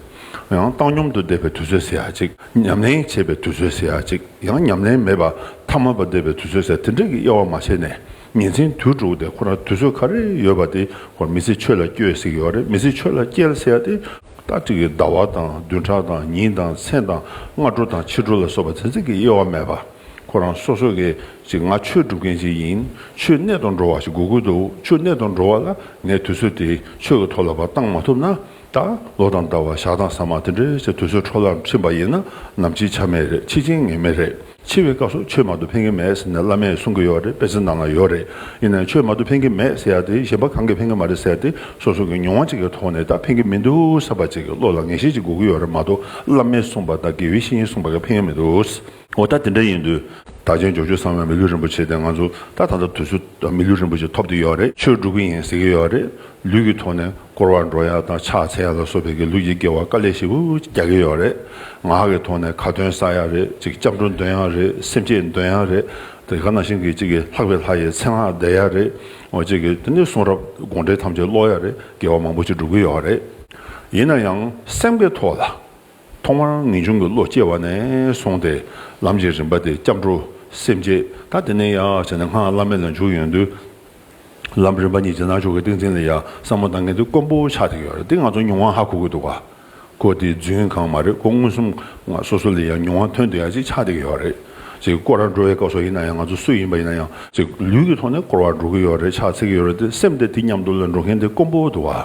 ཡང་བཏང་སྙོམ་དུ་བསྡད་པའི་དུས་ཚོད་ཟེར་ཡ་ཅིག་ཉམས་ལེན་བྱེད་པའི་དུས་ཚོད་ཟེར་ཡ་ཅིག་ཡང་ཉམས་ལེན་མེད་པ་ཐ་མལ་པ་བསྡད་པའི་དུས་ཚོད་ཟེར་དེ་འདྲ་གི་དབྱེ་བ་མ་ཕྱེ་ནས། ཉིན་མཚན་དུས་དྲུག་དེ་ཁོ་རང་དུས་ཚོད་ག་རེ་ཡོད་པ་དེའི་སྐོར་མི་ཚེ་ཆོས་ལ་སྐྱོལ་ཟེར་གྱི་ཡོད་རེད་མི་ཚེ་ཆོས་ལ་སྐྱལ་ཟེར་ཡ་དེ། ལྟ་ཅི་གི་ཟླ་བ་དང་བདུན་ཕྲག་དང་ཉིན་དང་མཚན་དང་སྔ་དྲོ་དང་ཕྱི་དྲོ་ལ་སོགས་པ་ཚན་རྩལ་གྱི་དབྱེ་བ་མེད་པ། ཁོ་རང་སོ་སོ་གས་ཅིག་ང་ཆོས་སྒྲུབ་མཁན་ཅིག་ཡིན་ཆོས་གནད་དུ་འགྲོ་བ་ཞིག་དགོས་ཀྱི་འདུག་ཆོས་གནད་དུ་འགྲོ་བ་ལ་ངས་དུས་ཚོད་དེ་ཆོས་ཀྱི་ཐོག་ལ་བ་གཏང་མ་ཐུབ་ན་ད་ལོ་དང་ཟླ་བ་ཞག་དང་ཟ་མ་དེ་འདྲའི་ཆ་དུས་ཚོད་འཕྲོ་བརླག་ཕྱིན་པ་ཡིན་ན་ནམ་འཆི་ཆ་མེད་རེད་འཆི་ཆེན་ངེས་མེད་རེད། འཆི་བའི་སྐབས་སུ་ཆོས་མང་དུ་འཕེན་གྱི་མེད་ཟེར་ནས་བླ་མས་གསུང་གི་ཡོད་རེད་དཔེ་ཚིག་ནང་ན་ཡོད་རེད་ཡིན་ནའི་ཆོས་མང་དུ་འཕེན་གྱི་མེད་ཟེར་ཡ་དེ་གཞན་པ་གང་གིས་འཕེན་གྱི་མ་རེད་ཟེར་ཏེ་སོ་སོ་གི་མྱོང་བ་གཅིག་གི་ཐོག་ནས་ད་འཕེན་གྱི་མི་འདུག་ཟེར་བ་གཅིག་གི་བློ་ལ་ངེས་ཤེས་གཅིག་འགོ་གི་ཡོད་རེད་མ་གཏོགས་བླ་མས་གསུངས་པ་དང་དགེ་བའི་བཤེས་གཉེན་གསུངས་པ་གིས་འཕེན་གྱི་མི་འདུག། འོ་ད་དེ་འདྲ་ཡིན་དུས་ད་ཆེན་འབྱོར་ཆོས་གསང་བའི་མི་ལུས་རིན་པོ་ཆེ་དེ་ང་ཚོ་ད་ད་ལྟ་དུས་ཚོད་མི་ལུས་རིན་པོ་ཆེ་ཐོབ་ཏུ་ཡོད་རེད་ཆོས་སྒྲུབ་ཀྱི་ཡིན་ཟེར་གྱི་ཡོད་རེད་ལུས་ཀྱི་ཐོག་ནས་སྐོར་བ་འགྲོ་ཡ་དང་ཕྱག་འཚལ་ཡ་ལ་སོགས་པའི་གི་ལུགས་ཀྱི་དགེ་བ་དཀའ་ལས་ཤིག་འུ་རྒྱག་གི་ཡོད་རེད། ངག་གི་ཐོག་ནས་ཁ་འདོན་ས་ཡག་རེད་ཅིག་སྐྱབས་འགྲོ་འདོན་ཡག་རེད་སེམས་བསྐྱེད་འདོན་ཡག་རེད། དེ་ག་ནང་བཞིན་གྱི་ཅིག་གི་ལྷག་པའི་ལྷ་ཡི་མཚན་སྔགས་བཟླས་ཡག་རེད། འོ་ཅིག་གི་དེ་ནས་གསུང་རབ་དགོངས་འགྲེལ་ཐམས་ཅད་ཀློག་ཡག་རེད་དགེ་བ་མང་པོ་ཅིག་འགྲུབ་གི་ཡོད་རེད། ཡིན་ན་ཡང་སེམས་ཀྱི་ཐོག་ལ། ཐོག་མར་ངེས་འབྱུང་གི་བློ་སྐྱེ་བ་ནས་བཟུང་སྟེ་ལམ་གྱི་རིམ་པ་དེ་སྐྱབས་འགྲོ་སེམས་བསྐྱེད་ད་དེ་ནས་ཡག་བྱས་ནས་སྔགས་བླ་མེད་ལ་འཇུག་ཡོང་དུས། ལམ་རིམ་པ་གཉིས་ཀྱི་ནང་ཆོས་ཀྱི་ཏིང་འཛིན་ལ་ཡང་བསམ་བློ་གཏང་མཁན་དེ་དཀོན་པོ་ཆགས་ཀྱི་ཡོད་རེད་དེ་ང་ཚོ་མྱོང་བ་ཧ་གོ་གི་འདུག་ག་ཁོ་དེ་རྫུན་གང་མ་རེད་ཁོ་མངོན་སུམ་ང་སོ་སོ་ལས་ཡང་མྱོང་བ་ཐོན་དུ་ཡང་ཅིག་ཆགས་བསྡད་ཀྱི་ཡོད་རེད་ཅིག་ཀོ་ར་འགྲོ་བའི་སྐབས་སོགས་ཡིན་ན་ཡང་ང་ཚོ་སུ་ཡིན་པ་ཡིན་ན་ཡང་ཅིག་ལུས་ཀྱི་ཐོག་ནས་སྐོར་བ་འགྲོ་གི་ཡོད་རེད་ཕྱག་འཚལ་གྱི་ཡོད་རེད་དེ་སེམས་དེ་དེ་མཉམ་དུ་ལ་འགྲོ་མཁན་དེ་དཀོན་པོ་འདུག་ག།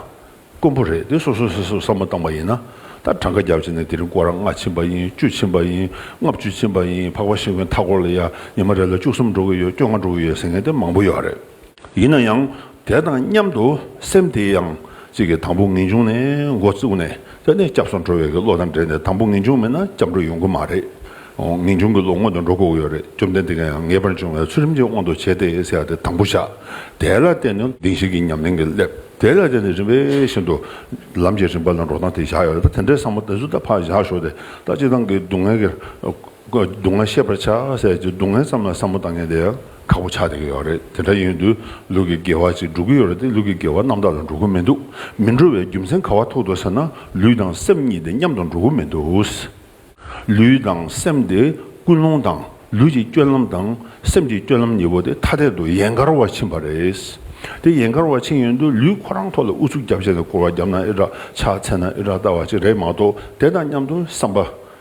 དཀོན་པོ་རེད་དེ་སོ་སོ་སོས་སོས་བསམ་བློ་བཏང་པ་ཡིན་ན་ད་གྲངས་ཀ་བརྒྱབ་བྱས་ནས་དེ་རིང་སྐོར་རག་ལྔ་ཕྱིན་པ་ཡིན་བཅུ་ཕྱིན་པ་ཡིན་ལྔ་བཅུ་ཕྱིན་པ་ཡིན་འཕགས་པ་ཤིང་བོའི་མཐའ་སྐོར་ལ་ཡ་ཉི་མ་རེ་ལ་བཅུ་གསུམ་འགྲོ་གི་ཡོད་བཅོ་ལྔ་འགྲོ་གི་ཡོད་ཟེར་མཁན་དེ་མང་པོ་ཡོད་རེད། ཡིན་ན་ཡང་དེ་དང་མཉམ་དུ་སེམས་དེ་ཡང་གཅིག་གི་དང་པོ་ངེས་འབྱུང་ནས་མགོ་བཙུགས་ནས་དེ་ནས་སྐྱབས་སུ་འགྲོ་བའི་གི་བློ་དང་འབྲེལ་ནས་དང་པོ་ངེས་འབྱུང་མེད་ན་སྐྱབས་འགྲོ་ཡོང་གི་མ་རེད། ངེས་འབྱུང་གི་བློ་སྔོན་དུ་འགྲོ་དགོས་ཀྱི་ཡོད་རེད་བཅོམ་ལྡན་འདས་ཀྱང་ཡང་ངེས་པར་འབྱུང་བའི་ཚུལ་རིམ་གྱིས་དབང་དུ་བྱས་ཏེ་ཟེར་བ་དེ་དང་པོ་བཞག་དེ་ལ་བརྟེན་ནས་གདིང་ཞིག་གི་ཉམས་ལེན་གྱི་སླད། དེ་ལ་བརྟེན་ནས་རིམ་པས་ཤིན་ཏུ་ལམ་གྱི་རིམ་པ་ལ་འགྲོ་སྟངས་དེ་བཞག་ཡོད་ལ་དེ་འདྲའི་བསམ་བློ་དེ་ཚོ་ད་ཕར་བཞག་ཞོག་དེ་ལྟར་སྤྱི་བཏང་གི་སྡུག་བསྔལ་གྱི་སྡུག་བསྔལ་ཤེས་པར་བྱ་ཟེར་གྱི་སྡུག་བསྔལ་ཙམ་ལ་བསམ་བློ་བཏང་མཁན་དེ་ཁག་པོ་ཆགས་བསྡད་ཀྱི་ཡོད་རེད་དེ་འདྲ་ཡིན་དུས་ལུས་ཀྱི་དགེ་བ་ཅིག་འགྲོ་གི་ཡོད་རེད་དེ་ལུས་ཀྱི་དགེ་བ་རྣམ་དག་ལ་འགྲོ་གི་མི་འདུག་མི་འགྲོ་བའི་རྒྱུ་མཚན་ག་བ་ཐུག་འདུག་ཟེར་ན་ལུས་དང་སེམས་གཉིས་དེ་མཉམ་དུ་འགྲོ་གི་མི་འདུག། ལུས་དང་སེམས་དེ་ཀུན་སློང་དང་ལུས་ཀྱི་སྐྱོན་ལམ་དང་སེམས་ཀྱི་སྐྱོན་ལམ་གཉིས་པོ་དེ་ཐ་དད་དུ་ཡན་གར་བར་ཕྱིན་པ་རེད། དེ་ཡན་གར་བར་ཕྱིན་ཡོན་དུ་ལུས་ཁོ་རང་ཐོག་ལ་ཨུ་ཚུགས་རྒྱབ་བྱས་ནས་སྐོར་བ་བརྒྱབ་ན་ཨེ་དྲག་ཕྱག་འཚལ་ན་ཨེ་དྲག་ལྟ་བ་ཅིག་རེད་མ་གཏོགས་དེ་དང་མཉམ་དུ་བསམ་པ་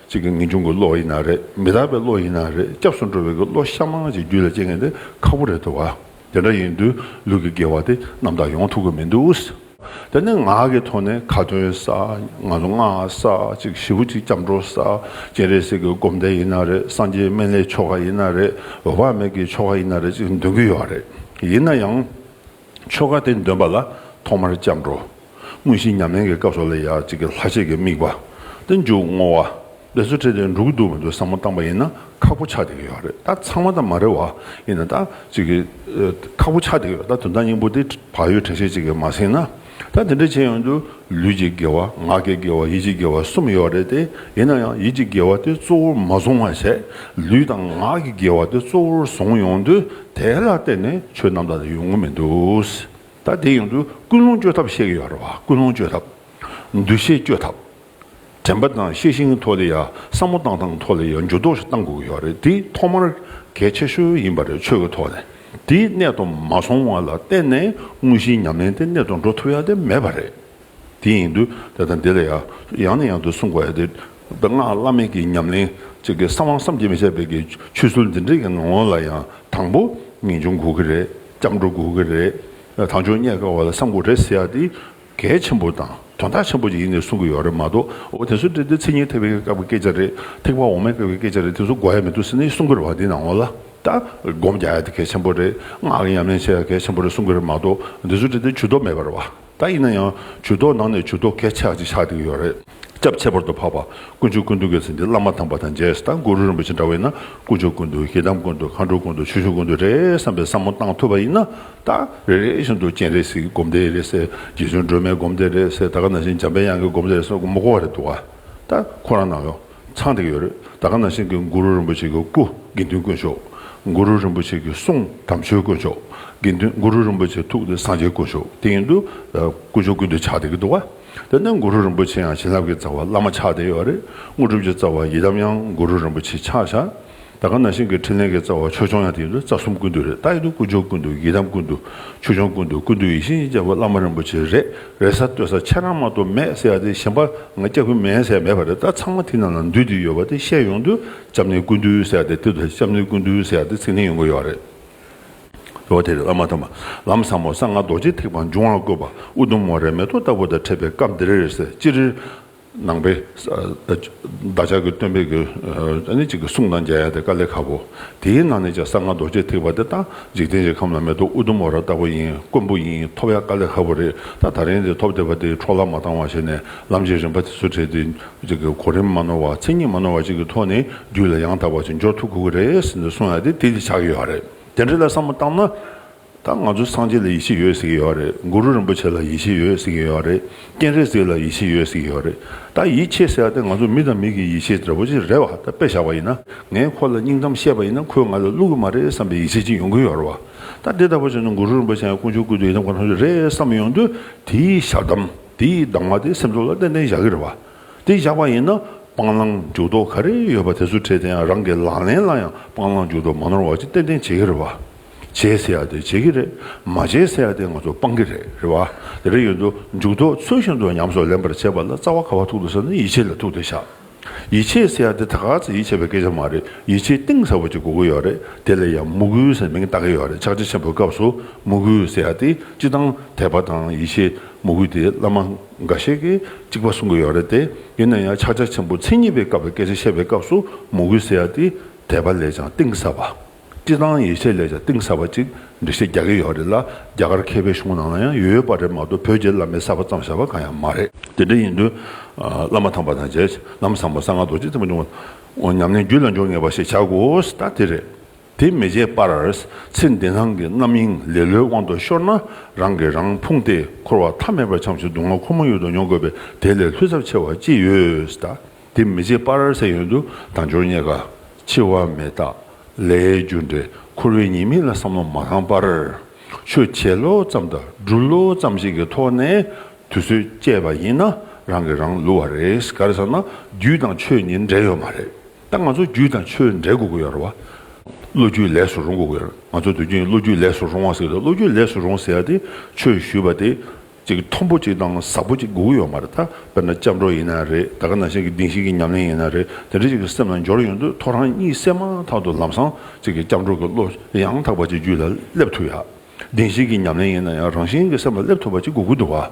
གཅིག་གི་ངེས་འབྱུང་གི་བློ་ཡིན་ན་རེད་མི་དག་པའི་བློ་ཡིན་ན་རེད་སྐྱབས་སུ་འགྲོ་བའི་གི་བློ་ཤ་མང་ཅིག་རྒྱུད་ལ་སྐྱེ་མཁན་དེ་ཁག་པོ་རེད་དོ་བ། དེ་འདྲ་ཡིན་དུས་ལུས་ཀྱི་དགེ་བ་དེ་རྣམ་དག་ཡོང་ཐུབ་ཀྱི་མི་འདུག། དེ་ནི་ངག་གི་ཐོག་ནས་ཁ་ཏོན་ས། ང་ཚོ་སྔགས་ས་གཅིག་བཞི་བོ་གཅིག་སྐྱབས་འགྲོ་ས། སྤྱན་རས་གཟིགས་ཀྱི་སྒོམ་བཟླས་ཡིན་ན་རེད་སངས་རྒྱས་སྨན་བླའི་ཆོ་ག་ཡིན་ན་རེད་འོད་དཔག་མེད་ཀྱི་ཆོ་ག་ཡིན་ན་རེད་ཅིག་འདོན་གྱི་ཡོད་རེད། ཡིན་ན་ཡང། ཆོ་ག་དེ་འདོན་པ་ལ་ཐོག་མར་སྐྱབས་འགྲོ། དངོས་གཞིའི་ཉམས་ལེན་གྱི་སྐབས་སོགས་ལ་ཡང་གཅིག་གི་ལྷག་བཅས་ཀྱི་དམིགས་པ། སྟེ་མཇུག་བསྔོ་བ། འབད་རྩོལ་ཁྲིད་དེ་འགྲོ་གི་འདུག་མི་འདུག་བསམ་བློ་བཏང་པ་ཡིན་ན་ཁག་པོ་ཆགས་བསྡད་ཀྱི་ཡོད་རེད་ད་ཚང་མ་དང་མ་རེད་བ། ཡིན་ན་ད་གཅིག་གི་ཁག་པོ་ཆགས་བསྡད་ཀྱི་ཡོད་ད་དོན་དག་སྙིང་པོ་དེ་བག་ཡོད་དྲན་ཤེས་གཅིག་གིས་མ་ཟིན་ན། ད་དེ་འདྲ་བྱས་ཡོང་དུས་ལུས་ཀྱི་དགེ་བ་ངག་གི་དགེ་བ་ཡིད་ཀྱི་དགེ་བ་གསུམ་ཡོད་རེད་དེ། ཡིན་ན་ཡང་ཡིད་ཀྱི་དགེ་བ་དེ་གཙོ་བོར་མ་བཟུང་བར་ཟད་ལུས་དང་ངག་གི་དགེ་བ་དེ་གཙོ་བོར་བཟུང་ཡོང་དུས་དེ་ལ་བརྟེན་ནས་ཆོས་རྣམ་དག་དེ་ཡོང་གི་མི་འདུག། ད་དེ་ཡོང་དུས་ཀུན་སློང་བཅོས་ཐབས་བཤད་ཀྱི་ཡོད་རེད་བ་ཀུན་སློང་བཅོས་ཐབས། འདུ་ཤེས་བཅོས་ཐབས། དྲན་པ་དང་ཤེས་བཞིན་ཐོག་ལེ་ཡ་བསམ་བློ་བཏང་སྟངས་ཐོག་ལེ་ཡ་འགྱུར་ལྡོག་ཞིག་གཏང་དགོས་ཀྱི་ཡོད་རེད་དེ་ཐོག་མར་གལ་ཆེ་ཤོས་ཡིན་པ་རེད་ཆོས་ཀྱི་ཐོག་ནས་དེའི་གནད་དུ་མ་སོང་བ་ལ་བརྟེན་ནས་དངོས་གཞིའི་ཉམས་ལེན་དེ་གནད་དུ་འགྲོ་ཐུབ་ཡ་དེ་མེད་པ་རེད། དེ་ཡིན་དུས་དེ་དང་དེ་ལ་ཡང་ཡང་ནས་ཡང་དུ་གསུང་དགོས་ཏེ། དཔེར་ན་བླ་མེད་ཀྱི་ཉམས་ལེན་གཅིག་གིས་གསང་བ་བསམ་གྱིས་མི་ཁྱབ་པའི་ཆོས་ཚུལ་འདི་འདྲའི་ངང་ངོ་ལ་ཡང་དང་པོ་ངེས་འབྱུང་དགོས་ཀྱི་རེད་སྐྱབས་འགྲོ་དགོས་ཀྱི་རེད་དམ་ཆོས་རྙེད་དཀའ་བ་ལ་བསམ་དགོས་རེད་ཟེར་ཡག་དེ་གལ་ཆེན་པོ་དང་དོན་དག་ཆེན་པོ་ཅིག་ཡིན་ནི་གསུང་གི་ཡོད་རེད་མ་གཏོགས་འོ་དེ་ཚོ་འདྲི་དེ་ཚིག་གཉིས་ཐེག་པའི་སྐབས་ཀྱི་སྐད་ཆ་རེད་ཐེག་པ་འོག་མའི་སྐབས་ཀྱི་སྐད་ཆ་རེད་དེ་ཚོ་གོ་ཡ་མི་འདུག་ཟེར་ནི་གསུང་གི་རེད་བ་དེ་ནང་ངོ་ལ་ལྟ་སྒོམ་རྒྱག་ཡ་དེ་གལ་ཆེན་པོ་རེད་སྔགས་ཀྱི་ཉམས་ལེན་བྱེད་ཡ་གལ་ཆེན་པོ་རེད་གསུང་གི་རེད་མ་གཏོགས་འདི་ཚོ་འདྲི་དེ་ཇུས་གཏོགས་མེད་པར་བ། ད་ཡིན་ན་ཡང་ཇུས་གཏོགས་ནང་ནས་ཇུས་གཏོགས་གལ་ཆགས་ཅིག་ཆགས་བསྡད་ཡོད་རེད། སྐྱབས་ཁྱད་པར་དུ་འཕགས་པ་དཀོན་མཆོག་ཀུན་འདུས་ཀྱི་ཚེ་འདི་བླ་མ་དམ་པ་དང་རྗེས་དང་གུ་རུ་རིན་པོ་ཆེ་འདྲ་བས་ན་དཀོན་མཆོག་ཀུན་འདུས་ཞེ་སྡང་ཀུན་འདུས་མཁའ་འགྲོ་ཀུན་འདུས་ཆོས་ཞུ་ཀུན་འདུས་རེད་བསམ་པའི་བསམ་བློ་བཏང་ཐུབ་པ་ཡིན་ན་ད་རེ་རེ་བཞིན་དུ་སྤྱན་རས་གཟིགས་ཀྱི་སྒོམ་བཟླས་རེད་ཟེར་རྗེ་བཙུན་སྒྲོལ་མའི་སྒོམ་བཟླས་རེད་ཟེར་ད་ག་ན་བཞིན་འཇམ་པའི་དབྱངས་ཀྱི་སྒོམ་བཟླས་རེད་ཟེར་མགོ་བསྐོར་བ་རེད་འདུག་ག་ད་ཁོ་རང་ནང་ཡོད། ཚང་དེ་གི་ཡོད་རེད་ད་ག་ནང་བཞིན་གི་མགུ་རུ་རིན་པོ་ཆེ་གི་སྐུ་དགེ་འདུན་དཀོན་ཤོག་མགུ་རུ་རིན་པོ་ཆེ་གི་གསུང་དམ་ཆོས་དཀོན་ཤོག་དགེ་འདུན་མགུ་རུ་རིན་པོ་ཆེ་ཐུགས་དེ་སངས་རྒྱས་དཀོན་ཤོག་དེ་ཡིན་དུ་དཀོན་མཆོག་ཀུན་དུ་ཆགས་དེ་གི་འདུག་བ་དེ་ནས་མགུ་རུ་རིན་པོ་ཆེ་ཡང་བྱིན་རླབས་ཀི་རྩ་བ་བླ་མ་ཆགས་དེ་ཡོད་རེད་དངོས་གྲུབ་ཀྱི་རྩ་བ་ཡི་དམ་ཡང་མགུ་རུ་རིན་པོ་ཆེ་ཆགས་ཤག། ད་ག་ན་ཤིང་གི་ཕྲིན་ལས་ཀྱི་རྩ་བ་ཆོས་སྐྱོང་ཡང་དེ་ཡིན་དུ་རྩ་གསུམ་ཀུན་ཏུ་རེད་རྟགས་ཡིན་དུ་ཀུན་སྦྱོར་ཀུན་ཏུ་ཡི་དམ་ཀུན་ཏུ་ཆོས་སྐྱོང་ཀུན་ཏུ་ཀུན་ཏུ་ཡིད་བཞིན་ཡིན་རྒྱལ་པོ་བླ་མ་རིན་པོ་ཆེ་རེད་རེད་ས་བསྟོད་ས་ཁྱེད་རང་མ་གཏོགས་མེད་ཟེར་ཡ་དེ་གཞན་པ་ང་སྐྱབས་ཀྱི་མེད་ཟེར་ཡ་མེད་པ་རེད་ད་ཚང་མ་དེ་རྣམས་ལ་འདུས་དེ་ཡོད་པ་དེ་བཤད་ཡོང་དུས་སྐྱབས་གནས་ཀུན་ཏུ་ཟེར་ཡ་དེ་དེ་ལྟ་སྐྱབས་གནས་ཀུན་ཏུ་ཟེར་ཡ་དེ་ཚིག་ལྷིང་ཡོང་གི་ཡོད་རེད་ཟེར་བ་དེ་རེད་བླ་མ་དམ་པ་ལམ་བཟང་མོ་གསང་སྔགས་རྡོ་རྗེ་ཐེག་པ་འབྱུང་བར་བཀོད་པ་ཨུ་དུམ་མོ་རེད་མེ་ཏོག་ལྟ་བུ་དང་འཕྲད་པའི་སྐབས་འདི་རེད་ཟེར་ཅི་རེད། ནང་པའི། བདག་ཅག་གི་སྟོན་པས་གུ། ནི་གཅིག་གི་གསུང་དང་མཇལ་ཡ་དེ་ཀ་ལེ་ཁ་བོ། དེའི་ནང་ནས་ཀྱང་གསང་སྔགས་རྡོ་རྗེ་ཐེག་པ་དེ་ལྟ། འཇིག་རྟེན་གྱི་ཁམས་ལ་མེ་ཏོག་ཨུ་དུམ་བོ་ར་ལྟ་བུ་ཡིན་དཀོན་པོ་ཡིན་ཐོབ་ཡ་ཀ་ལེ་ཁ་བོ་རེད་ད་ད་རིང་འདིར་ཐོབ་བསྡད་པ་འདིས་འཕྲོ་བརླག་མ་བཏང་བ་བྱས་ནས་ལམ་གྱི་རིམ་པ་དེ་ཚོ་བྲལ་ཏེ། གཅིག་གི་གོ་རིམ་མ་ནོར་བ་མཚན་ཉིད་མ་ནོར་བ་གཅིག་གི་ཐོག་ནས་རྒྱུད་ལ་ཡང་དག་པར་ཕྱིར་འབྱོར་ཐུབ་དགོས་ཀྱི་རེད་ཟེར་ནས་གསུང་ཡ་དེ་དེ་འདི་ཆགས་ཡོད་རེད་དེ་འདྲ་ལ་བསམ་བློ་བཏང་ན། ད་ང་ཚོ་སངས་རྒྱས་ལ་ཡིད་ཆེས་ཡོད་ཟེར་གྱི་ཡོད་རེད་གུ་རུ་རིན་པོ་ཆེ་ལ་ཡིད་ཆེས་ཡོད་ཟེར་གྱི་ཡོད་རེད་སྤྱན་རས་གཟིགས་ལ་ཡིད་ཆེས་ཡོད་ཟེར་གྱི་ཡོད་རེད་ད་ཡིད་ཆེས་ཟེར་བ་དེ་ང་ཚོ་མི་དང་མི་གི་ཡིད་ཆེས་འདྲ་པོ་ཅིག་རེད་བ་ད་དཔེ་བཞག་པ་ཡིན་ན་ངས་ཁོ་ལ་སྙིང་གཏམ་བཤད་པ་ཡིན་ན་ཁོས་ང་ལ་བསླུ་གི་མ་རེད་བསམ་པའི་ཡིད་ཆེས་ཅིག་ཡོང་གི་ཡོད་རེད་བ་ད་འདི་ལྟ་བུ་བྱུང་ན་གུ་རུ་རིན་པོ་ཆེ་ཡང་དཀོན་མཆོག་སྐུ་དེ་ཡི་དམ་གང་ཐོབ་ཀྱི་རེད་བསམ་ཡོང་དུས་དེའི་ཞག་གདམ་དེའི་གདམ་ང་དེ་སེམས་ཚོར་ལ་ཏན་ཏན་བཞག་གི་རེད་བ་དེ་བཞག་པ་ཡིན་ན་སྤང་བླང་འཇུག་ལྡོག་ག་རེ་ཡོད་པ་དེ་ཚོ་བྲལ་དེ་ཡང་རང་གི་ལག་ལེན་ལ་ཡང་སྤང་བླང་འཇུག་ལྡོག་མ་ནོར་བ་ཅིག་ཏན་ཏན་བྱེད་ཀྱི་རེད་བ། བྱས་ཟེར་ཡག་དེ་བྱེད་ཀྱི་རེད། མ་བྱས་ཟེར་ཡག་དེ་ང་ཚོ་སྤང་གི་རེད་རེད་བ། དེ་རིང་ཡོད་དོ་མཇུག་དོ་ཚོད་བཞིན་དུ་ཉམས་སོགས་ལེན་པར་བྱེད་པ་ལ་རྩ་བ་ག་བ་ཐུག་དོ་ཟེར་ན་ཡིད་ཆེས་ལ་ཐུག་དེ་ཤག། ཡིད་ཆེས་ཟེར་ཡག་དེ་ད་ག་ཚེ་ཡིད་ཆེས་པའི་སྐད་ཆ་མ་རེད་ཡིད་ཆེས་གཏིང་ཟབ་པོ་ཅིག་དགོས་ཀྱི་ཡོད་རེད་དེ་ལ་ཡང་མུ་གུའི་ཟེར་མིང་བཏགས་ཀྱི་ཡོད་རེད་ཕྱག་ཆེན་ཆེན་པོའི་སྐབས་སུ་མུ་གུ་ཟེར་ཡག་དེ་སྤྱི་དང་དད་པ་དང་ཡིད་ཆེས་མུ་གུ་དེ་བླ་མ་འགའ་ཤས་ཀྱིས་གཅིག་པ་གསུང་གི་ཡོད་རེད་དེ་ཡིན་ན་ཡང་ཕྱག་ཆ་ཆེན་པོ་མཚན་ཉིད་པའི་སྐབས་པའི་སྐད་ཆ་བཤད་པའི་སྐབས་སུ་མུ་གུ་ཟེར་ཡག་དེ་དད་པ་ལས་ཀྱང་གཏིང་ཟབ་པ། བཀྲིས་དང་ཡེ་ཤེས་ལས་ཀྱང་གཏིང་ཟབ་པ་ཅིག་འབྲི་ཤེས་རྒྱག་གི་ཡོད་རེད་ལ་རྒྱ་གར་མཁས་པའི་གཞུང་ནང་ལ་ཡང་ཡོད་ཡོད་པ་རེད་མ་གཏོགས་བོད་རྒྱའི་བླ་མའི་གསར་པ་ཙམ་བཞག་པ་གང་ཡང་མ་རེད། དེ་འདྲ་ཡིན་དུས་བླ་མ་ཐང་པ་དང་རྗེས་གནང་བཟང་པོ་གསང་སྔགས་རྡོ་རྗེ་བརྩེགས་པ་འབྱུང་བ་ཉམས་ནས་རྒྱུད་ལ་འཇོག་ངེས་པ་ཞིག་བྱ་དགོས་ད་དེ་རེད། དེ་མི་བྱེད་པར་ཚེ་འདི་སྣང་གི་རྣམ་གཡེང་ལེ་ལོའི་དབང་དུ་ཤོར་ན་རང་གིས་རང་ཕུང་སྟེ་འཁོར་བ་མཐའ་མེད་པར་འཁྱམས་ཤིང་སྡུག་བསྔལ་ཁོ་མོ་ཡོད་དུ་མྱོང་དགོས་པས་དེ་ལས་ལྷུད་ཚབས་ཆེ་བ་ཅི་ཡོད། དེ་མི་བྱེད་པར་ཟེར་ཡོན་དུ་དང་སྦྱོར་རྙེད་དཀའ། འཆི་བ་མེད་དག་ལས་རྒྱུ་འབྲས་འཁོར་བའི་ཉེས་དམིགས་ལ་བསམ་བློ་མ་བཏང་པར། ཆོས་འཆད་བློ་ཙམ་དང་སྒྲུབ་བློ་ཙམ་ཞིག་གི་ཐོག་ནས་དུས་ཚོད་བསྐྱལ་བ་ཡིན་ན་རང་གིས་རང་བསླུ་བ་རེད་ག་རེ་ཟེར་ན་རྒྱུད་དང་ཆོས་གཉིས་འབྲེལ་ཡོད་མ་རེད་ད་ང་ཚོ་རྒྱུད་དང་ཆོས་འབྲེལ་དགོས་ཀྱི་ཡོད་རེད་བ། བློ་རྒྱུད་ལས་སུ་རུང་དགོས་ཀྱི་ཡོད་རེད་ང་ཚོ་དུས་རྒྱུན་བློ་རྒྱུད་ལས་སུ་རུང་བ་ཟེར་གི་འདུག་བློ་རྒྱུད་ལས་སུ་རུང་ཟེར་ཡ་དེ་ཆོས་ཞུས་པ་དེ་ཅིག་མཐོན་པོ་ཅིག་དང་ཟབ་པོ་ཅིག་སྒུག་ཡོད་མ་རེད་དཱ། དཔེར་ན་སྐྱབས་འགྲོ་ཡིན་ན་རེད་ད་ག་ན་ཞིག་གི་གདིང་ཞིག་གི་ཉམས་ལེན་ཡིན་ན་རེད་དེ་འདྲ་ཅིག་གི་སེམས་ལ་འབྱོར་ཡོང་དུས་ཐོ་རངས་གཉིད་སད་མ་ཐག་ཏུ་ལམ་སང་ཅིག་གི་སྐྱབས་འགྲོ་གི་བློ་ཡང་དག་པ་ཅིག་རྒྱུད་ལ་སླེབས་ཐུབ་ཡ། གདིང་ཞིག་གི་ཉམས་ལེན་ཡིན་ན་ཡང་རང་བཞིན་གྱི་སེམས་ལ་སླེབས་ཐུབ་པ་ཅིག་སྒུག་གི་འདུག་བ།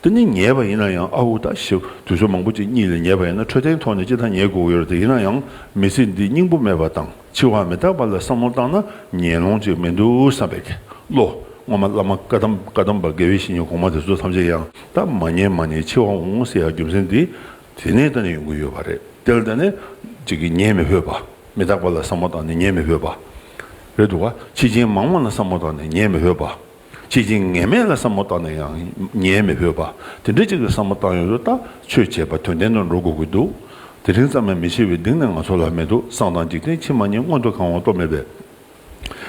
དེ་ནི་ཉེས་པ་ཡིན་ན་ཡང་ཨའུ་ད་ཞེས་དུས་ཚོད་མང་པོ་ཅིག་གཉིད་ལས་ཉེས་པ་ཡིན་ན་འཕྲོད་བསྟེན་ཐོག་ནས་ཅི་ཐ་ཉེས་སྒུག་ཡོད་རེད་དེ་ཡིན་ན་ཡང་མི་ཚེ་འདི་སྙིང་པོ་མེད་པ་དང། འཆི་བ་མི་རྟག་པ་ལ་བསམ་བློ་བཏང་ན་ཉེས་ལོང་ཅིག་མི་འདུག་བསམ་པའི་བློ། སྔོན་མ་བླ་མ་བཀའ་གདམས་པ་དགེ་བའི་བཤེས་གཉེན་གོང་མ་དེ་ཚོ་ཐམས་ཅད་ཡང་དག་མ་ཉན་མ་ཉན་འཆི་བ་འོང་ཟེར་ཡ་རྒྱུ་མཚན་འདི་དེ་ནས་ད་ནས་ཡོང་གི་ཡོད་པ་རེད་དེ་ལ་ད་ནས་ཅིག་གིས་ཉན་མི་ཕོད་པ། མི་རྟག་པ་ལ་བསམ་བློ་བཏང་ནས་ཉན་མི་ཕོད་པ། རེད་འདུག་བ། འཆི་རྐྱེན་མང་བ་ལ་བསམ་བློ་བཏང་ནས་ཉན་མི་ཕོད་པ། ཁྱེད་ཀྱིས་ངན་སྨྲས་ལ་བསམ་བློ་བཏང་ནས་ཡང་ཉེས་མི་ཕོད་པ། དེ་འདྲའི་ཅིག་ལ་བསམ་བློ་བཏང་ཡོད་དུ་ལྟ་ཆོས་བྱས་པ་དོན་ལྡན་དུ་འགྲོ་དགོས་ཀྱི་འདུག་དེ་རིང་ཙམ་ཡང་མི་ཤེས་བའི་གདིང་ནི་ང་ཚོ་ལ་མེད་དུ་སང་དང་འཇིག་རྟེན་ཕྱི་མ་གཉིས་མངོན་དུ་གང་བ་རྟོགས་མེད་པས།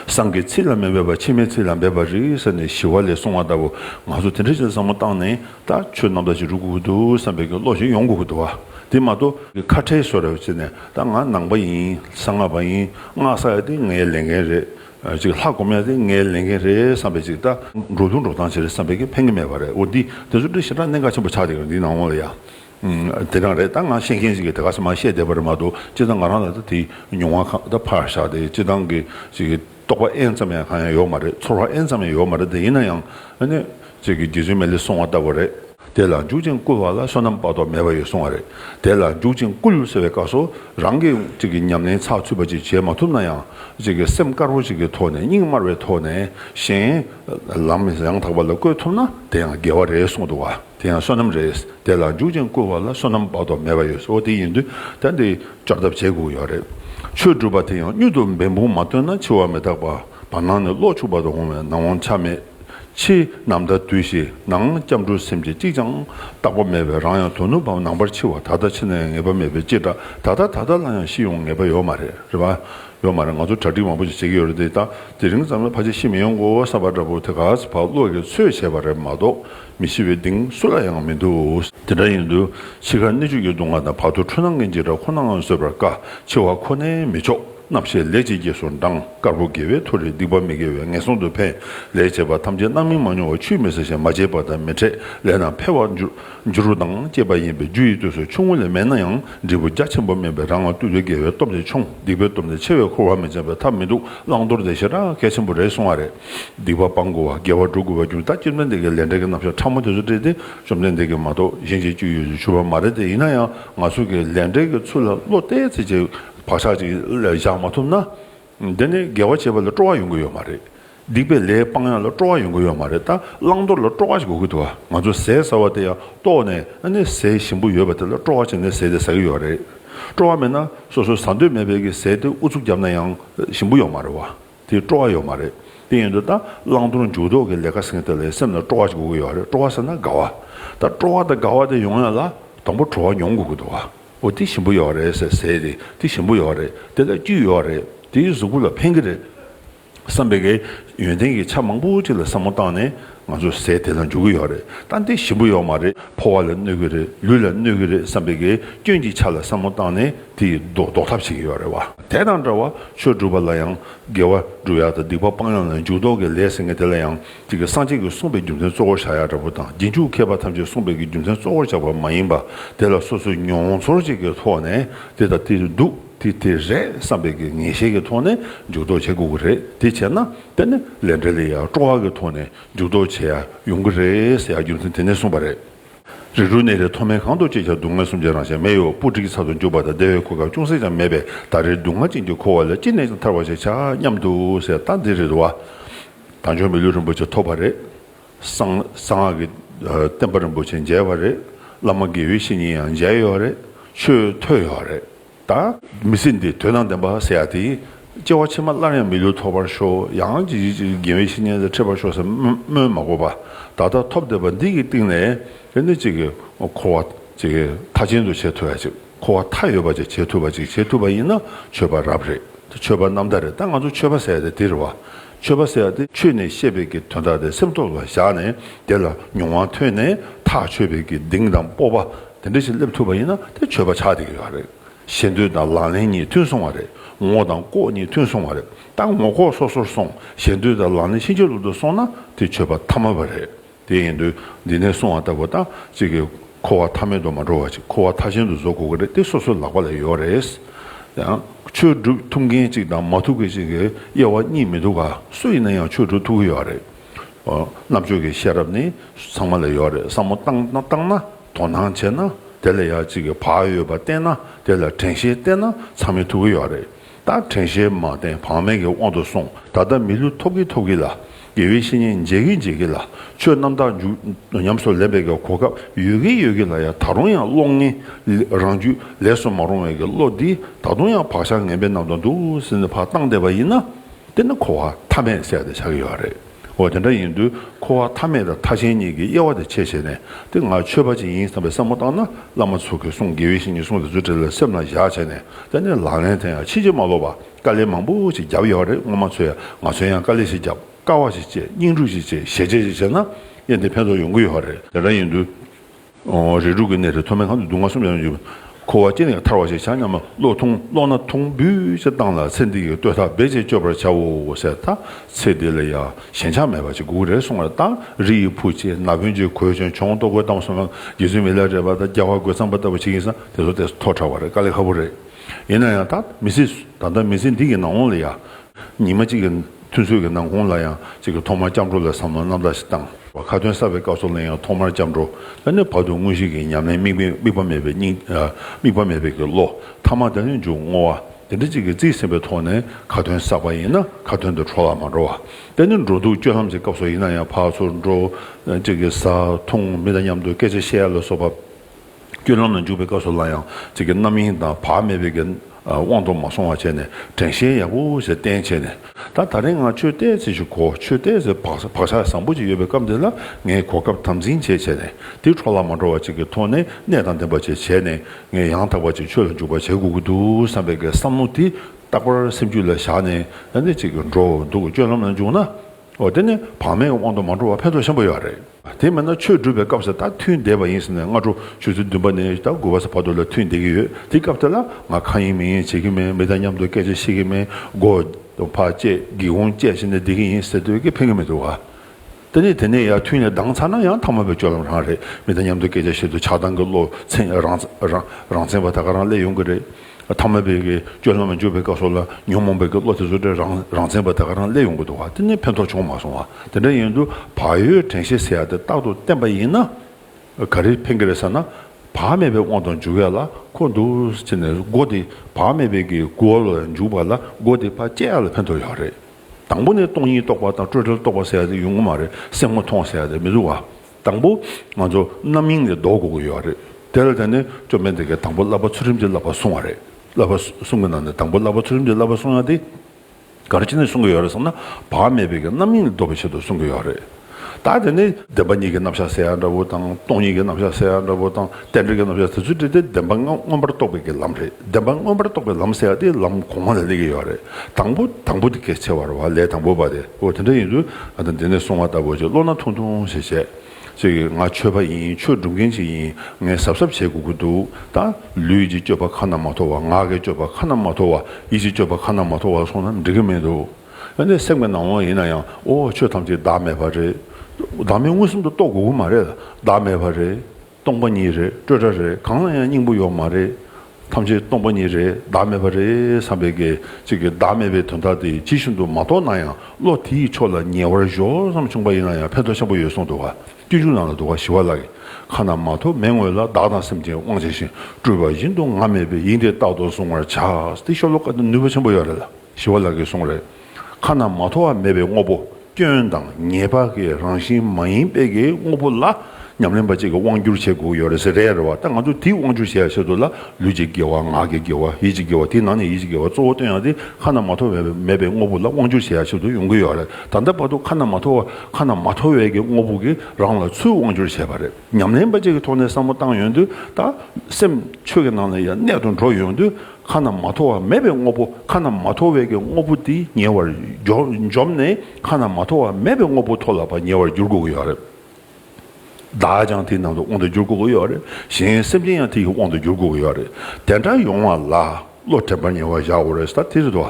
སང་གི་ཚིག་ལ་མི་འབད་པར་ཕྱི་མའི་ཚིག་ལ་འབད་པར་རིགས་ཟེར་ནས་ཞི་བ་ལས་གསུང་བ་ལྟ་བུ་ང་ཚོ་དེ་འདྲའི་ཅིག་ལ་བསམ་བློ་བཏང་ནས་ལྟ་ཆོས་རྣམ་དག་ཅིག་འགྲུབ་དགོས་ཀྱི་འདུག་བསམ་པའི་གྱི་བློ་ཞིག་ཡོང་དགོས་ཀྱི་འདུག་དེ་མ་གཏོགས། གི་ཁ་བྲལ་བཟོ་རེ་བྱས་ནས་ད་ང་ནང་པ་ཡིན་ལ་སྔགས་པ་ཡིན་སྔགས་བསགས་ཡས་དེ་ངའི་ལས་འགན་རེད། ཅིག་ལྷག་གོ་མེད་དེ་ངས་ལེན་མཁན་རེད་བསམ་པའི་ཅིག་ལྟ། འགྲོ་འདུག་འགྲོ་སྟངས་བྱེད་རེད་བསམ་པའི་ཀྱི་ཕན་ངེས་མེད་པ་རེད་འོ་འདི་དེ་ཚོ་འདྲི་ཞེ་དྲག་གནད་འགག་ཆེན་པོ་ཆགས་འདུག་འདི་ནང་ངོ་ལ་ཡ། དེ་འདྲ་རེད་ད་ང་ཤེས་མཁན་ཅིག་གིས་དེ་ག་ཚོད་མང་བཤད་བསྡད་པ་རེད་མ་གཏོགས་སྤྱིར་བཏང་ང་རང་ལ་ད་དེའི་མྱོང་བ་ཁག་ད་ཕར་བཞག་སྟེ་སྤྱིར་བཏང་གི་ཅིག་རྟོགས་པ་ཨེན་ཙམ་ཡང་གང་ཡང་ཡོད་མ་རེད་ཚོར་བ་ཨེན་ཙམ་ཡང་ཡོད་མ་རེད་དེ་ཡིན་ན་ཡང་ནི་ཅིག་རྗེ་བཙུན་མའི་ལས་གསུང་བ་ལྟ་བུ་རེད། དེ་ལ་འཇུག་ཅིང་བསྐུལ་བ་ལ་བསོད་ནམས་དཔག་ཏུ་མེད་པ་ཡོད་གསུང་བ་རེད། དེ་ལ་འཇུག་ཅིང་བསྐུལ་ཟེར་བའི་སྐབས་སུ་རང་གིས་ཉམས་ལེན་ཚགས་ཚུད་པ་ཅིག་བྱེད་མ་ཐུབ་ན་ཡང། སེམས་དཀར་པོ་ཞིག་གི་ཐོག་ནས་སྙིང་དམར་བའི་ཐོག་ནས་གཞན། ལམ་ཡང་དག་པ་ལ་བཀོལ་ཐུབ་ན་དེ་ཡང་དགེ་བ་རེད་གསུང་འདུག་བ་དེ་ཡང་བསོད་ནམས་རེད། དེ་ལ་འཇུག་ཅིང་བསྐུལ་བ་ལ་བསོད་ནམས་དཔག་ཏུ་མེད་པ་ཡོད་གསུང་བ་དེ་ཡིན་དུས་ད་འདི་སྐྱོར་ཐབས་བྱེད་དགོས་ཡོད་རེད། ཆོས་སྒྲུབ་པ་དེ་ཡང་གཉུད་དུ་འབད་འབུངས་མ་བཏོན་ན་འཆི་བ་མི་རྟག་པ་བར་སྣང་ནས་གློག་འཁྱུག་པ་དང་འོང་བའི་སྣང་བ་ཆ་མེད། ཕྱི་ནང་མཐའ་བརྟུལ་ཞིང་ནང་སྐྱབས་འགྲོ་སེམས་ཅན་གཅིག་ཅང་རྟག་པ་མེད་པའི་རང་ཡང་དོ་ནུབ་བམ་ནང་པར་འཆི་བ་ད་ལྟ་འཆི་ན་ཡང་ངེས་པ་མེད་པའི་ལྕེ་དྲག་ད་ལྟ་ད་ལྟ་ལ་ཡང་ཤི་ཡོང་ངེས་པ་ཡོད་མ་རེད་རེད་པ། ཡོད་མ་རེད་ང་ཚོ་གྲ་སྒྲིག་མང་པོ་ཞིག་བྱེད་ཀྱི་ཡོད་རེད་དེ་དག་དེ་རིང་ཙམ་ལ་ཕ་ཅག་ཤི་མི་ཡོང་གོ་བསམ་པ་འདྲ་པོ་དེ་ག་ཚོད་བག་ཀློག་གིས་ཚོད་བྱས་པ་རེད་མ་གཏོགས་མི་ཤི་བའི་གདིང་སུ་ལ་ཡང་མི་འདུག། དེ་འདྲ་ཡིན་དུས་འཆི་ཁར་སྣེ་གཅུགས་ཀྱི་སྡུག་བསྔལ་དང་བར་དོ་འཁྲུལ་སྣང་ངན་ཅི་འདྲ་ཁོ་ནའང་བཟོད་པར་དཀའ་འཆི་བ་ཁོ་ནའི་མི་ཆོག། རྣམ་ཤེས་ལས་ཅི་སྐྱེས་སུ་འབྲང། དཀར་པོ་དགེ་བས་མཐོ་རིས་སྡིག་པ་མི་དགེ་བས་ངན་སོང་དུ་འཕེན། ལས་བྱས་པ་ཐམས་ཅད་རྣམ་སྨིན་མ་མྱོང་བ་ཆུད་མི་ཟ་ཞིང་མ་བྱས་པ་དང་མི་འཕྲད་ལས་རྣམས་འཕེལ་བར་འགྱུར། འབྱུར་བུ་དང་བཅས་པ་ཡིན་པས་རྒྱུ་ཡི་སྟོད་སུ་ཆུང་ངུ་ལས་མེད་ན་ཡང་འབྲས་བུ་རྒྱ་ཆེན་པོ་སྨིན་པས་རང་ང་སྟོད་དུ་དགེ་བའི་སྟོབས་ལས་ཆུང་སྡིག་པའི་སྟོབས་ལས་ཆེ་བས་འཁོར་བ་མི་འཇམ་པའི་ཐབས་མི་འདུག་བླང་དོར་འདི་ཤེས་རབ་གལ་ཆེན་པོ་རེད་གསུང་བ་རེད། སྡིག་པ་སྤང་དགོས་བ་དགེ་བ་སྒྲུབ་དགོས་བ་རྒྱུན་ལྟར་བཅོམ་ལྡན་འདས་ཀྱི་ལས་འབྲས་ཀྱི་རྣམ་གཞག་ཕྲ་མོ་དེ་ཚོ་བཀྲལ་ཏེ་བཅོམ་ལྡན་འདས་ཀྱིས་མ་གཏོགས་གཞན་གྱིས་བཅུ་ཡོད་ཅེས་ཞུ་བ་མ་རེད་དེ་ཡིན་ན་ཡང་ང་ཚོ་གིས་ལས་འབྲས་ཀྱི་ཚུལ་ལ་བློ་གཏད་ཚེ་ཅི་བག་ཆགས་ཀྱིས་བཞག་མ་ཐུབ་ན། དེ་ནི་དགེ་བ་བྱེད་པ་ལ་སྤྲོ་བ་ཡོང་གི་ཡོད་མ་རེད། སྡིག་པའི་ལས་སྤང་ཡང་ལ་སྤྲོ་བ་ཡོང་གི་ཡོད་མ་རེད་ད། བླང་དོར་ལ་སྤྲོ་བ་ཞིག་དགོས་ཀྱི་འདུག་ང་ཚོ་ཟས་ཟ་བ་དེ་ཡང་ལྟོགས་ནས་ནི་ཟས་ཞིམ་པོ་ཡོད་པ་དེ་ལ་སྤྲོ་བ་བྱས་ནས་ཟས་དེ་ཟ་གི་ཡོད་རེད། སྤྲོ་བ་མེད་ན་སོ་སོས་ཟ་འདོད་མེད་པའི་གི་ཟས་དེ་ཨུ་ཚུགས་བརྒྱབ་ན་ཡང་ཞིམ་པོ་ཡོང་མ་རེད་བ། དེ་སྤྲོ་བ་ཡོད་མ་རེད། དེ་ཡིན་དུ་ད་བླང་དོར་འཇུག་ལྡོག་གི་ལས་ཀ་ཟིན་ཐུབ་པའི་སེམས་ལ་སྤྲོ་བ་ཞིག་དགོས་ཀྱི་ཡོད་རེད་སྤྲོ་བ་ཟེར་ན་དགའ་བ། ད་སྤྲོ་བ་དང་དགའ་བ་དེ་ཡོང་ཡོང་ལ་དང་པོ་བྲོ་བ་མྱོང་དགོས་ཀྱི་འདུག་བ། འོ་དེ་ཞིམ་པོ་ཡོད་རེད་ཟེར་ཟས་རེད་དེ་ཞིམ་པོ་ཡོད་རེད་དེ་ལ་རྒྱུས་ཡོད་རེད་དེའི་གཟུགས་པོ་ལ་ཕན་གྱི་རེད་བསམ་པའི་གས། ཡོན་ཏན་གྱི་ཆ་མང་པོ་ཅིག་ལ་བསམ་བློ་བཏང་ནས། ང་ཚོ་ཟས་དེ་ལ་འཇུ་གི་ཡོད་རེད་ད་འདི་ཞིམ་པོ་ཡོད་མ་རེད་ཕོ་བ་ལ་གནོད་གི་རེད་ལུས་ལ་གནོད་གི་རེད་བསམ་པའི་དགེ་སྐྱོན་གྱི་ཆ་ལ་བསམ་བློ་བཏང་ནས་དེ་ཡི་ཟློག་ཟློག་ཐབས་བྱེད་ཀྱི་ཡོད་རེད་བ། དེ་དང་འདྲ་བ་ཆོས་སྒྲུབ་པ་ལ་ཡང་དགེ་བ་སྒྲུབ་ཡག་དང་སྡིག་པ་སྤང་ཡག་ལ་འཇུག་ཟློག་གི་ལས་ཟེར་མཁན་དེ་ལ་ཡང་གཅིག་གི་སངས་རྒྱས་ཀྱི་གསུངས་པའི་རྒྱུ་མཚན་གཙོ་བོར་བཞག་ཡག་འདྲ་པོ་དང་རྒྱན་འཇུག་མཁས་པ་ཐམས་ཅད་གསུངས་པའི་གི་རྒྱུ་མཚན་གཙོ་བོར་བཞག་པ་མ་ཡིན་པ་དེ་ལ་སོ་སོའི་མྱོང་ཚོར་གཅིག་གི་ཐོག་ནས་དེ་དང་དེ་རེད་འདུག་དེ་དེ་རེད་བསམ་པའི་གི་ངེས་ཤེས་ཀྱི་ཐོག་ནས་འཇུག་ཟློག་བྱེད་དགོས་གི་རེད་དེ་བྱས་ན། དེ་ནི་ལས་འབྲས་ལས་ཡག་སྤྲོ་བ་གི་ཐོག་ནས་འགྱུར་ལྡོག་བྱེད་ཡ་ཡོང་གི་རེད་ཟེར་ཡ་རྒྱུ་མཚན་དེ་ནས་གསུངས་པ་རེད། རིགས་རུས་གནས་རི་མཐོ་དམན་གང་དུ་སྐྱེས་ཀྱང་སྡུག་བསྔལ་གསུམ་ཆའི་རང་བཞིན་མེ་ཡོར་སྤུ་གྲིའི་ཚབ་ཏུ་འགྱུར་བ་དང་བདེ་བའི་གོ་སྐབས་ཅུང་ཟད་ཀྱང་མེད་པས་ད་རེས་སྡུག་བསྔལ་ཅན་གྱི་འཁོར་བ་ལས་ཅི་ནས་ཀྱང་ཐར་བ་བྱས་བྱ་སྙམ་དུ་ཟེར་སྟངས་འདི་རེད་བ། དང་ཆོས་མི་ལུས་རིན་པོ་ཆེ་ཐོབ་པ་རེད། གསང་སྔགས་ཀྱི་བསྟན་པ་རིན་པོ་ཆེ་མཇལ་བ་རེད། བླ་མ་དགེ་བའི་བཤེས་གཉེན་ཡང་མཇལ་ཡོད་རེད། ཆོས་ཐོས་ཡོད་རེད། ད་མི་སྲིད་འདི་དོན་དང་ལྡན་པ་ཟེར་ཡག་དེ། སྐྱེ་བ་ཕྱི་མ་སླར་ཡང་མི་ལུས་ཐོབ་པར་ཤོག་ཡང་ཅི་བགྱི་བགྱི་དགེ་བའི་བཤེས་གཉེན་ཚེ་ཁྲིད་པར་ཤོག་ཟེར་སྨོན་མ་གོ་བ་ད་ལྟ་ཐོབ་བསྡད་པ་འདི་གི་སྟེང་ནས་རེ་འདུན་ཅིག་གིས་འཁོར་བ་ཅིག་མཐའ་ཅན་དུ་བྱེད་ཐུབ་ཡ་ཅིག་འཁོར་བ་མཐའ་ཡོད་པ་ཅིག་བྱེད་ཐུབ་པ་ཅིག་བྱེད་ཐུབ་པ་ཡིན་ན་ཆོས་པ་རབ་རེད་ཆོས་པ་རྣམ་དག་རེད་ད་ང་ཚོ་ཆོས་པ་ཟེར་ཡ་དེ་འདིར་བ་ཆོས་པ་ཟེར་ཡ་དེ་ཆོས་ནས་ཤེས་པའི་གི་དོན་དག་དེ་སེམས་ཐོག་ཏུ་བཞག་ནས་དེ་ལ་མྱོང་བ་ཐོན་ནས་ཐག་ཆོད་པའི་གི་གདེང་དང་སྤོབས་པ་དེ་འདྲ་ཞིག་སླེབས་ཐུབ་པ་ཡིན་ན་དེ་ཆོས་པ་ཆགས་འདེགས་ཡོད་རེད། ཞེ་འདོད་དང་ལག་ལེན་གཉིས་མཐུན་སོང་བ་རེད། ངོ་དང་ལྐོག་གཉིས་མཐུན་སོང་བ་རེད། ད་ངོ་ལྐོག་སོ་སོར་སོང་ཞེ་འདོད་དང་ལག་ལེན་ཕྱིན་ཅི་ལོག་ཏུ་སོང་ན་དེ་ཆོས་པ་ཐ་མ་བ་རེད། དེ་ཡིན་དུས་འདི་ནས་སོང་བ་ལྟ་བུ་དང་གཅིག་གིས་འཁོར་བ་ཐ་མལ་དུ་མ་འགྲོ་བ་ཅིག་འཁོར་བ་ཐ་ཆེན་དུ་བཟོ་དགོས་ཀྱི་རེད་དེ་སོ་སོའི་ལག་པ་ལ་ཡོད་རེད། ཆོས་སྒྲུབ་ཐུབ་མཁན་གཅིག་དང་མ་ཐུབ་མཁན་གཅིག་གི་དབྱེ་བ་གཉིས་མི་འདུག་ག་སུ་ཡིན་ན་ཡང་ཆོས་སྒྲུབ་ཐུབ་ཀྱི་ཡོད་རེད། རྣམ་དཔྱོད་ཀྱི་ཤེས་རབ་ནི་ཚང་མ་ལ་ཡོད་རེད་བསམ་མོ་བཏང་ན་བཏང་ན་དོ་སྣང་བྱེད་ན་དེ་ལ་ཡ་གཅིག་གི་བག་ཡོད་པ་བསྟན་ན་དེ་ལ་དྲན་ཤེས་བསྟན་ན་ཚང་མའི་ཐུགས་ཀྱི་ཡོད་རེད་ད་དྲན་ཤེས་མ་བསྟན་བག་མེད་ཀྱི་དབང་དུ་སོང་ད་ལྟ་མི་ལུས་ཐོབ་ཀྱི་ཐོབ་ཀྱི་ལ་དགེ་བའི་བཤེས་གཉེན་མཇལ་གྱི་མཇལ་གྱི་ལ་ཆོས་རྣམ་དག་འཇུག་ཉམས་སུ་ལེན་པའི་གོ་སྐབས་ཡོད་ཀྱི་ཡོད་ཀྱི་ལ་ཡ་ད་རུང་ཡང་བློ་ངན་རང་རྒྱུད་ལས་སུ་མ་རུང་བའི་གི་བློ་འདི་ད་དུང་ཡང་བག་ཆགས་ངན་པའི་ནང་དུ་འདུག་ཟིན་བག་བཏང་བསྡད་པ་ཡིན་ན། དེ་ནི་འཁོར་བ་ཐ་མས་བསལ་ཏེ་ཆགས་ཀྱི་ཡོད་རེད། འོ་དེ་འདྲ་ཡིན་དུས་འཁོར་བ་ཐ་མས་དང་ཐ་ཆེན་གཉིས་ཀྱི་དབྱེ་བ་དེ་ཕྱེ་བྱས་ནས་དེ་ང་ཆོས་པ་ཅིག་ཡིན་བསམ་པའི་བསམ་བློ་བཏང་ན་བླ་མ་ཚོ་གི་གསུང་དགེ་བའི་བཤེས་གཉེན་གསུང་དེ་ཚོའི་འགྲེལ་ལ་སེམས་ལ་བཞག་བྱས་ནས་དེ་ནས་ལག་ལེན་དེ་ཡང་ཕྱི་རྗེས་མ་ལོག་པར་དཀའ་ལས་མང་པོ་ཞིག་བརྒྱབ་ཡོད་རེད་སྔོན་མ་ཚོས་ང་ཚོས་ཡང་དཀའ་ལས་ཤིག་བརྒྱབ་དཀའ་བ་ཞིག་སྤྱད་སྙིང་རུས་ཤིག་བྱས་ཞལ་ཆད་ཞིག་བྱས་ན་དབྱེན་དེ་ཕན་ཐོགས་ཡོང་གི་ཡོད་རེད་དེ་འདྲ་ཡིན་དུས། རེ་དྲུག་གི་ནས་རེ་ཐོག་མའི་གང་དུ་སྡུག་བསྔལ་གསུམ་ཡང་ཡོད། འཁོར་བ་སྐྱེ་ནས་ཐར་བར་བྱེད་བྱ་སྙམ་ན་བློ་ཐུང་ཀློག་ན་ཐུང་འབུད་ཅེས་བཏང་ལ་ཚེ་འདི་ཡི་ལྟོས་ཐག་རྦད་ཅེས་གཅོད་པར་བྱའོ་ཟེར་ད་ཚེ་འདི་ལ་ཡང་ཞེན་ཆགས་མེད་པར་ཅི་དགུ་རེར་སོང་བ་ལྟར་རི་ཡི་ཕུག་ཅེས་ན་བོན་གྱི་གོས་ཆོན་ཆུང་ལྟོ་གོས་བཏང་སོང་ན་རྗེ་བཙུན་མི་ལ་རས་པ་དང་རྒྱལ་བ་རྒོད་ཚང་པ་ལྟ་བུ་ཞིག་ཡིན་ས་དེ་ཚོ་དེ་ཐོག་དྲག་པ་རེད་དཀའ་ལས་ཁ་པོ་རེད། ཡིན་ན་ཡང་ད་མི་ཚེ་ད་ལྟ་མི་ཚེ་འདི་གི་ནང་ལོང་ལ་ཡང་ཉི་མ་གཅིག་གི་ཐུན་ཚོད་ཀྱི་ནང་ཁུང་ལ་ཡང་གཅིག་གིས་ཐོག་མར་སྐྱབས་འགྲོ་ལ་བསམ་མནོ་རྣམ་དག་ཞིག་བཏང། ཁ་ཏོན་གསར་བའི་བཀའ་སྲོལ་ལ་ཡང་ཐོག་མར་སྐྱབས་འགྲོ་ལ་ནི་བར་དུ་དངོས་གཞི་གི་ཉམས་ལེན་དམིགས་པ་མེད་པའི་སྙིང། དམིགས་པ་མེད་པའི་གི་བློ་ཐ་མ་དང་ནི་འཇུག་བསྔོ་བ་འདི་འདྲ་གཅིག་གིས་བརྩིས་ཟིན་པའི་ཐོག་ནས་ཁ་ཏོན་གསར་བ་ཡིན་ན་ཁ་ཏོན་དུ་འཕྲོ་བརླག་མ་འགྲོ་བ་དེ་ནི་འགྲོ་འདུག་སྤྱོད་ལམ་གྱི་སྐབས་སོགས་ཡིན་ན་ཡང་ཕར་ཚུར་འགྲོ་གཅིག་གིས་ཟ་འཐུང་མི་དང་མཉམ་དུ་སྐད་ཆ་བཤད་ལ་སོགས་པ། སྐྱོད་ལམ་ལ་འཇུག་པའི་སྐབས་སུ་སླར་ཡང་ཚིག་གི་རྣམ་གཡེང་དང་བག་མེད་པའི་དབང་དུ་མ་སོང་བ་བྱས་ནས་དྲན་ཤེས་ཡག་པོ་ཞིག་བརྟན་བྱས་ནས། ད་ད་རེས་ང་ཆོས་དད་ཚིག་ཞིག་གོ་ཆོས་དད་ཚིག་བག་ཆགས་བཟང་པོ་ཅིག་ཡོད་པའི་སྐབས་འདི་ལ་ངས་གོ་སྐབས་དམ་འཛིན་བྱེད་བྱས་ནས་དེ་འཕྲོ་ལ་མ་འགྲོ་བ་ཅིག་གི་ཐོག་ནས་གནས་དང་ལྡན་པ་ཅིག་བྱས་ནས་ངས་ཡང་དག་པ་ཅིག་ཆོས་ལ་འཇུག་པར་བྱེད་དགོས་ཀྱི་འདུག་བསམ་པའི་བསམ་བློ་དེ་རྟག་པར་སེམས་རྒྱུད་ལ་བཞག་ནས་ཨ་འདི་ཅིག་འགྲོ་འདུག་སྐྱོད་ལམ་ལ་འཇུག་ན། འོ་དེ་ནི་བག་མེད་ཀྱི་དབང་དུ་མ་འགྲོ་བར་ཕན་ཐོགས་ཆེན་པོ་ཡོད་རེད། དེ་མིན་ན་ཆོས་སྒྲུབ་པའི་སྐབས་སུ་ད་ཐུན་བཟླས་པ་ཡིན་ཟེར་ནས་སྔ་དྲོ་ཆུ་ཚོད་བདུན་པ་ནས་ད་དགུ་བ་ས་བར་དུ་ལ་ཐུན་བཟླས་ཀྱི་ཡོད་དེ་སྐབས་དེ་ལ་ང་གང་ཡིན་མིན་ཡིན་བྱེད་ཀྱི་མེད་མི་དང་མཉམ་དུ་སྐད་ཆ་བཤད་ཀྱི་མེད་སྒོ་བར་བཅས་སྒེའུ་ཁུང་བཅས་བྱས་ནས་བསྡད་ཀྱི་ཡིན་ཟེར་འདོད་ཀྱི་ཕན་གྱི་མི་འདུག་ད་ནི་དེ་ནས་ཡར་ཐུན་ལས་ལྡང་ཚར་ན་ཡང་ཐ་མ་བའི་སྤྱོད་ལམ་རང་རེད་མི་དང་མཉམ་དུ་སྐད་ཆ་བཤད་དུ་ཆགས་སྡང་གི་བློ་ཚེངས་རང་རང་བཙན་བ་ད་ག་རང་སླེབས་ཡོང་གི་རེད། ཐ་མལ་པའི་སྐྱོན་ལམ་ལ་འཇུག་པའི་སྐབས་སོགས་ལ་ཉོན་མོངས་པའི་དགེ་སློབ་དེ་ཚོ་དེ་རང་རང་མཚན་པ་དེ་ག་རང་སླད་ཡོང་གི་འདུག་བ་དེ་ནི་ཕན་ཐོགས་བྱུང་མ་སོང་བ་དེ་འདྲ་ཡིན་དུས་བག་ཡོད་དྲན་ཤེས་ཟེར་ཡ་དེ་རྟག་ཏུ་བསྟན་པ་ཡིན་ན་ག་རེ་ཕན་གི་རེད་ཟེར་ན་བག་མེད་པའི་དབང་དང་འཇུག་ཡ་ལ་འཁོར་འདུག་ཟེར་ནས་སྒོ་དེ་བག་མེད་པའི་གི་སྒོ་ལ་འཇུག་པ་ལ་སྒོ་དེ་བག་བཅད་ཡ་ལ་ཕན་ཐོགས་ཡོད་རེད་དང་པོ་ནས་སྟོང་ཉིད་རྟོགས་པ་དང་སྤྲོས་བྲལ་རྟོགས་པ་ཟེར་ཡ་དེ་ཡོང་གི་མ་རེད་སེམས་ངོ་མཐོང་ཟེར་ཡ་དེ་མི་འདུག་བ་དང་པོ། ང་ཚོ་རྣམ་གཡེང་ལས་ལྡོག་དགོས་ཀྱི་ཡོད་རེད། དེར་བརྟེན་ནས་བཅོམ་ལྡན་འདས་ཀྱིས་དང་པོ་བསླབ་པ་ཚུལ་ཁྲིམས་ཀྱི་བསླབ་པ་གསུངས་བ་རེད། བསླབ་པ་གསུམ་གྱི་ནང་ནས་དང་པོ་བསླབ་པ་ཚུལ་ཁྲིམས་ཀྱི་བསླབ་པ་གསུངས་ཡང་དེ། ག་རེ་བྱས་ནས་གསུང་གི་ཡོད་རེད་བསམ་ན། བག་མེད་པའི་རྣམ་གཡེང་ལས་ལྡོག་པའི་ཆེད་དུ་གསུང་གི་ཡོད་རེད། ད་དེ་ནི། བདེན་པ་གཉིས་ཀྱི་རྣམ་གཞག་གསལ་ཡང་འདྲ་བོ་དང་སྟོང་ཉིད་ཀྱི་རྣམ་གཞག་གསལ་ཡང་འདྲ་བོ་དང་རྟེན་འབྲེལ་གྱི་རྣམ་གཞག་དེ་ཚོའི་འབྲེལ་དེ་བདེན་པ་ལྔ་མངོན་པར་རྟོགས་པའི་གྱི་ལམ་རེད་བདེན་པ་མངོན་པར་རྟོགས་པའི་ལམ་གསལ་ཡང་དེ་ལམ་གོང་མ་ལ་སླེབས་ཀྱི་ཡོད་རེད་དང་པོ་དང་པོ་དེ་གལ་ཆེ་བར་བ་ལས་དང་པོ་བ་དེ། ཨོ་དེ་འདྲ་ཡིན་ཚུལ་ཨ་ཐ་འདི་ནས་གསུང་བ་ལྟ་བུ་ཅིག་བློ་སྣ་ཐུང་ཐུང་ཞིག་བྱས། ཅིག་གིས་ང་ཆོས་པ་ཡིན་ཆོས་སྒྲུབ་མཁན་ཅིག་ཡིན་ངས་གཟབ་གཟབ་བྱེད་དགོས་ཀྱི་འདུག་ད། ལུས་ཀྱི་སྤྱོད་པ་ཁ་ན་མ་ཐོ་བ་ངག་གི་སྤྱོད་པ་ཁ་ན་མ་ཐོ་བ་ཡིད་ཀྱི་སྤྱོད་པ་ཁ་ན་མ་ཐོ་བ་སོང་ན་འགྲིག་གི་མི་འདུག་ཨ་ནི་སེམས་ཀྱི་ནང་དབང་ཡིན་ན་ཡང་ཨོ་ཆོས་ཐམས་ཅད་བདག་མེད་པ་རེད། བདག་མེད་མངོན་སུམ་དུ་རྟོགས་དགོས་ཀྱི་མ་རེད་ལ་བདག་མེད་པ་རེད། སྟོང་པ་ཉིད་རེད་སྤྲོས་བྲལ་རེད་གང་ལ་ཡང་སྙིང་པོ་ཡོད་མ་རེད། ཐམས་ཅད་སྟོང་པ་ཉིད་རེད་བདག་མེད་པ་རེད་བསམ་པའི་སྐད་ཅིག་གིས་བདག་མེད་པའི་དོན་དག་དེ་ཇི་བཞིན་དུ་མ་རྟོགས་ན་ཡང་བློ་དེ་ཡི་ཕྱོགས་ལ་ཉེ་བར་གཞོགས་སམ་ཆུང་པ་ཡིན་ན་ཡང་ཕན་ཐོགས་ཆེན་པོ་ཡོད་གསུངས་འདུག་སྐྱོན་ཆུང་ནང་ལ་འདུག་ཞི་བ་ལགས་ཀྱི་ཁ་ན་མ་ཐོ་མའི་ངོས་ལ་བདག་དང་སེམས་ཅན་དབང་བྱེད་བཞིན་སྤྲུལ་པ་བཞིན་དུ་ང་མེད་པའི་དབྱིངས་དེ་རྟག་ཏུ་བཟུང་བར་བྱ་སྟེ་ཤོ་ལོ་ཀ་དུ་ནུས་པ་ཆེན་པོ་ཡོད་རེད་ལ་ཞི་བ་ལགས་ཀྱི་གསུང་རེད། ཁ་ན་མ་ཐོ་བ་མེད་པའི་དངོས་པོ་སྐྱོན་དང་ངེས་པ་ཀྱི་རང་བཞིན་མ་ཡིན་པའི་གི་དངོས་པོ་ལ་ཉམས་ལེན་པ་གཅིག་གི་དབང་བསྒྱུར་བྱེད་དགོས་ཡོད་རེད་ཟེར་རེད་བ་ད་ང་ཚོ་དེའི་དབང་བསྒྱུར་བྱེད་ཡ་ཆེད་དུ་ལ་ལུས་ཀྱི་དགེ་བ་ངག་གི་དགེ་བ་ཡིད་ཀྱི་དགེ་བ་དེའི་ནང་ནས་ཡིད་ཀྱི་དགེ་བ་གཙོ་བོ་སྟོན་ཡ་དེ་ཁ་ན་མ་ཐོ་བ་མེད་པའི་དངོས་པོ་ལ་དབང་བསྒྱུར་བྱེད་ཡ་ཆེད་དུ་ཡོང་གི་ཡོད་རེད་ད་ལྟ་བར་དུ་ཁ་ན་མ་ཐོ་བ་ཁ་ན་མ་ཐོ་བའི་གི་དངོས་པོ་གི་རང་ལ་ཚུལ་དབང་བསྒྱུར་བྱེད་པ་རེད་ཉམས་ལེན་པ་གཅིག་གི་ཐོག་ནས་བསམ་བློ་བཏང་ཡོང་དུས་ད་སེམས་ཆོས་ཀྱི་ནང་ལ་ཡ་གནད་དུ་འགྲོ་ཡོང་དུས་ཁ་རྣམས་མ་ཐོ་བ་མེད་པའི་དངོས་པོ་ཁ་རྣམས་མ་ཐོ་བས་ཀྱི་དངོས་པོ་དེ་ཉེ་བར་འཇོམས་ནས་ཁ་རྣམས་མ་ཐོ་བ་མེད་པའི་དངོས་པོ་ཐོ་ལ་བ་ཉེ་བར་འགྱུར་དགོས་ཀྱི་ཡོད་རེད། བདག་ཀྱང་དེའི་ནང་དུ་དབང་དུ་འགྱུར་དགོས་ཀྱི་ཡོད་རེད། གཞན་སེམས་ཅན་ཡང་དེ་ཡི་དབང་དུ་འགྱུར་དགོས་ཀྱི་ཡོད་རེད། དེ་འདྲ་ཡོང་བ་ལ་བློ་དྲན་པར་ཉེ་བར་བཞག་དགོས་རེད་ད་དེ་རེད་དོ།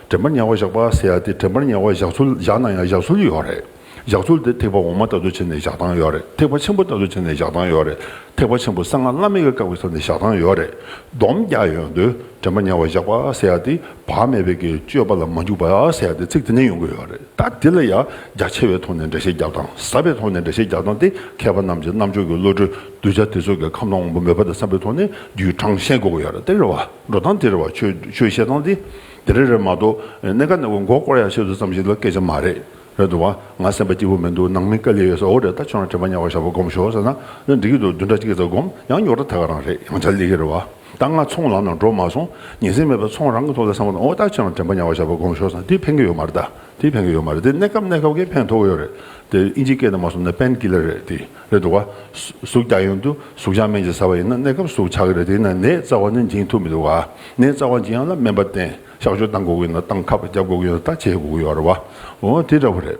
དྲན་པར་ཉེ་བ་བཞག་པ་ཟེར་ཡ་དེ་དྲན་པར་ཉེ་བ་བཞག་ཚུལ་བཞག་ན་ཡང་བཞག་ཚུལ་ཡོད་རེད། བཞག་ཚུལ་དེ་ཐེག་པ་འོག་མ་ལྟ་བུ་བྱས་ནས་བཞག་སྟངས་ཡོད་རེད་ཐེག་པ་ཆེན་པོ་ལྟ་བུ་བྱས་ནས་བཞག་སྟངས་ཡོད་རེད་ཐེག་པ་ཆེན་པོ་གསང་སྔགས་བླ་མེད་ཀྱི་བཀའ་བའི་ས་ནས་བཞག་སྟངས་ཡོད་རེད་སྡོམ་རྒྱག་ཡོང་དུས་དྲན་པར་ཉེ་བ་བཞག་པ་ཟེར་ཡ་དེ་བག་མེད་པའི་གི་སྤྱོད་པ་ལ་མ་འཇུག་པ་ཟེར་ཡ་དེ་ཚིག་དེ་འདྲ་ཡོང་གི་ཡོད་རེད་ད་དེ་ལ་ཡང་རྒྱ་ཆེ་བའི་ཐོག་ནས་འགྲེལ་བཤད་རྒྱབ་དང་ཟབ་པའི་ཐོག་ནས་འགྲེལ་བཤད་རྒྱག་སྟངས་དེ་མཁས་པ་རྣམས་ཀྱི་རྣམ་དཔྱོད་ཀྱི་བློ་གྲོས་གདུལ་བྱ་དེ་ཚོ་གི་ཁམས་དང་དབང་པོ་མོས་པ་དང་བསམ་པའི་ཐོག་ནས་རྒྱུའི་གྲངས་བཤད་དགོས་ཀྱི་ཡོད་རེད་དེ་རེད་བ། འགྲོ་སྟངས་དེར་བ་ཆོས་བཤད་སྟངས་དེ་དེ་རེད་རེད་མ་གཏོགས་གནས་ཀ་ནས་མགོ་སྐོར་ཡག་ཤེས་ཚུལ་ཙམ་ཞིག་ལ་སྐད་ཆ་མ་རེད་རེད་འདུག་བ་ང་སེམས་པ་སྐྱིད་པོ་མི་འདུག་ནང་མི་དཀའ་ལས་ཡོད་ས་འོ་རེད་ད་ཁྱོད་རང་དྲན་པ་ཉག་བ་ཞག་པོ་སྒོམ་ཞོག་ཟེར་ན་འདི་སྐད་དུ་བདུན་ཕྲག་གཅིག་གི་ཟ་སྒོམ་ཡང་ཉོག་དྲ་ད་ག་རང་རེད་ཡང་བྱ་ལེ་གི་རེད་བ་ད་ང་ཚོང་ལམ་ནང་འགྲོ་མ་སོང་ཉིན་སྲིང་མེད་པ་ཚོང་རང་གི་ཐོག་ལ་སེམས་པ་ནོར་ད་ཁྱོད་རང་དྲན་པ་ཉག་བ་ཞག་པོ་སྒོམ་ཞོག་ཟེར་ན་དེ་ཕན་གི་ཡོད་མ་རེད་ད་དེ་ཕན་གི་ཡོད་མ་རེད་དེ་གནས་སྐབས་གནས་སྐབས་ཀྱི་ཕན་ཐོག་གི་ཡོད་རེད་དེ་ཨིན་ཇིའི་སྐད་དེ་མ་སོང་ན་པན་གི་ལ་རེད་དེ། རེད་འདུག་གཟུགས་རྒྱ་ཡོན་དུ་གཟུགས་བྱང་སྨན་གྱིས་ཟ་བ་ཡིན་ན་གནས་སྐབས་སུ་ཆགས་ཀྱི་རེད་དེས་ན་ནད་རྩ་བ་ནས་འབྱིན་ཐུབ་མི་འདུག་ག་ནད་རྩ་བ་འབྱིན་ཡག་ན་སྨན་པ་བསྟེན་གཤགས་བཅོས་བཏང་དགོས་ཀྱི་ཡོད་ན་བཏང་ཁ་བརྒྱབ་དགོས་ཀྱི་ཡོད་ན་ད་བྱེད་དགོས་ཀྱི་ཡོད་རེད་བ་འོ་དེ་འདྲ་བོ་རེད།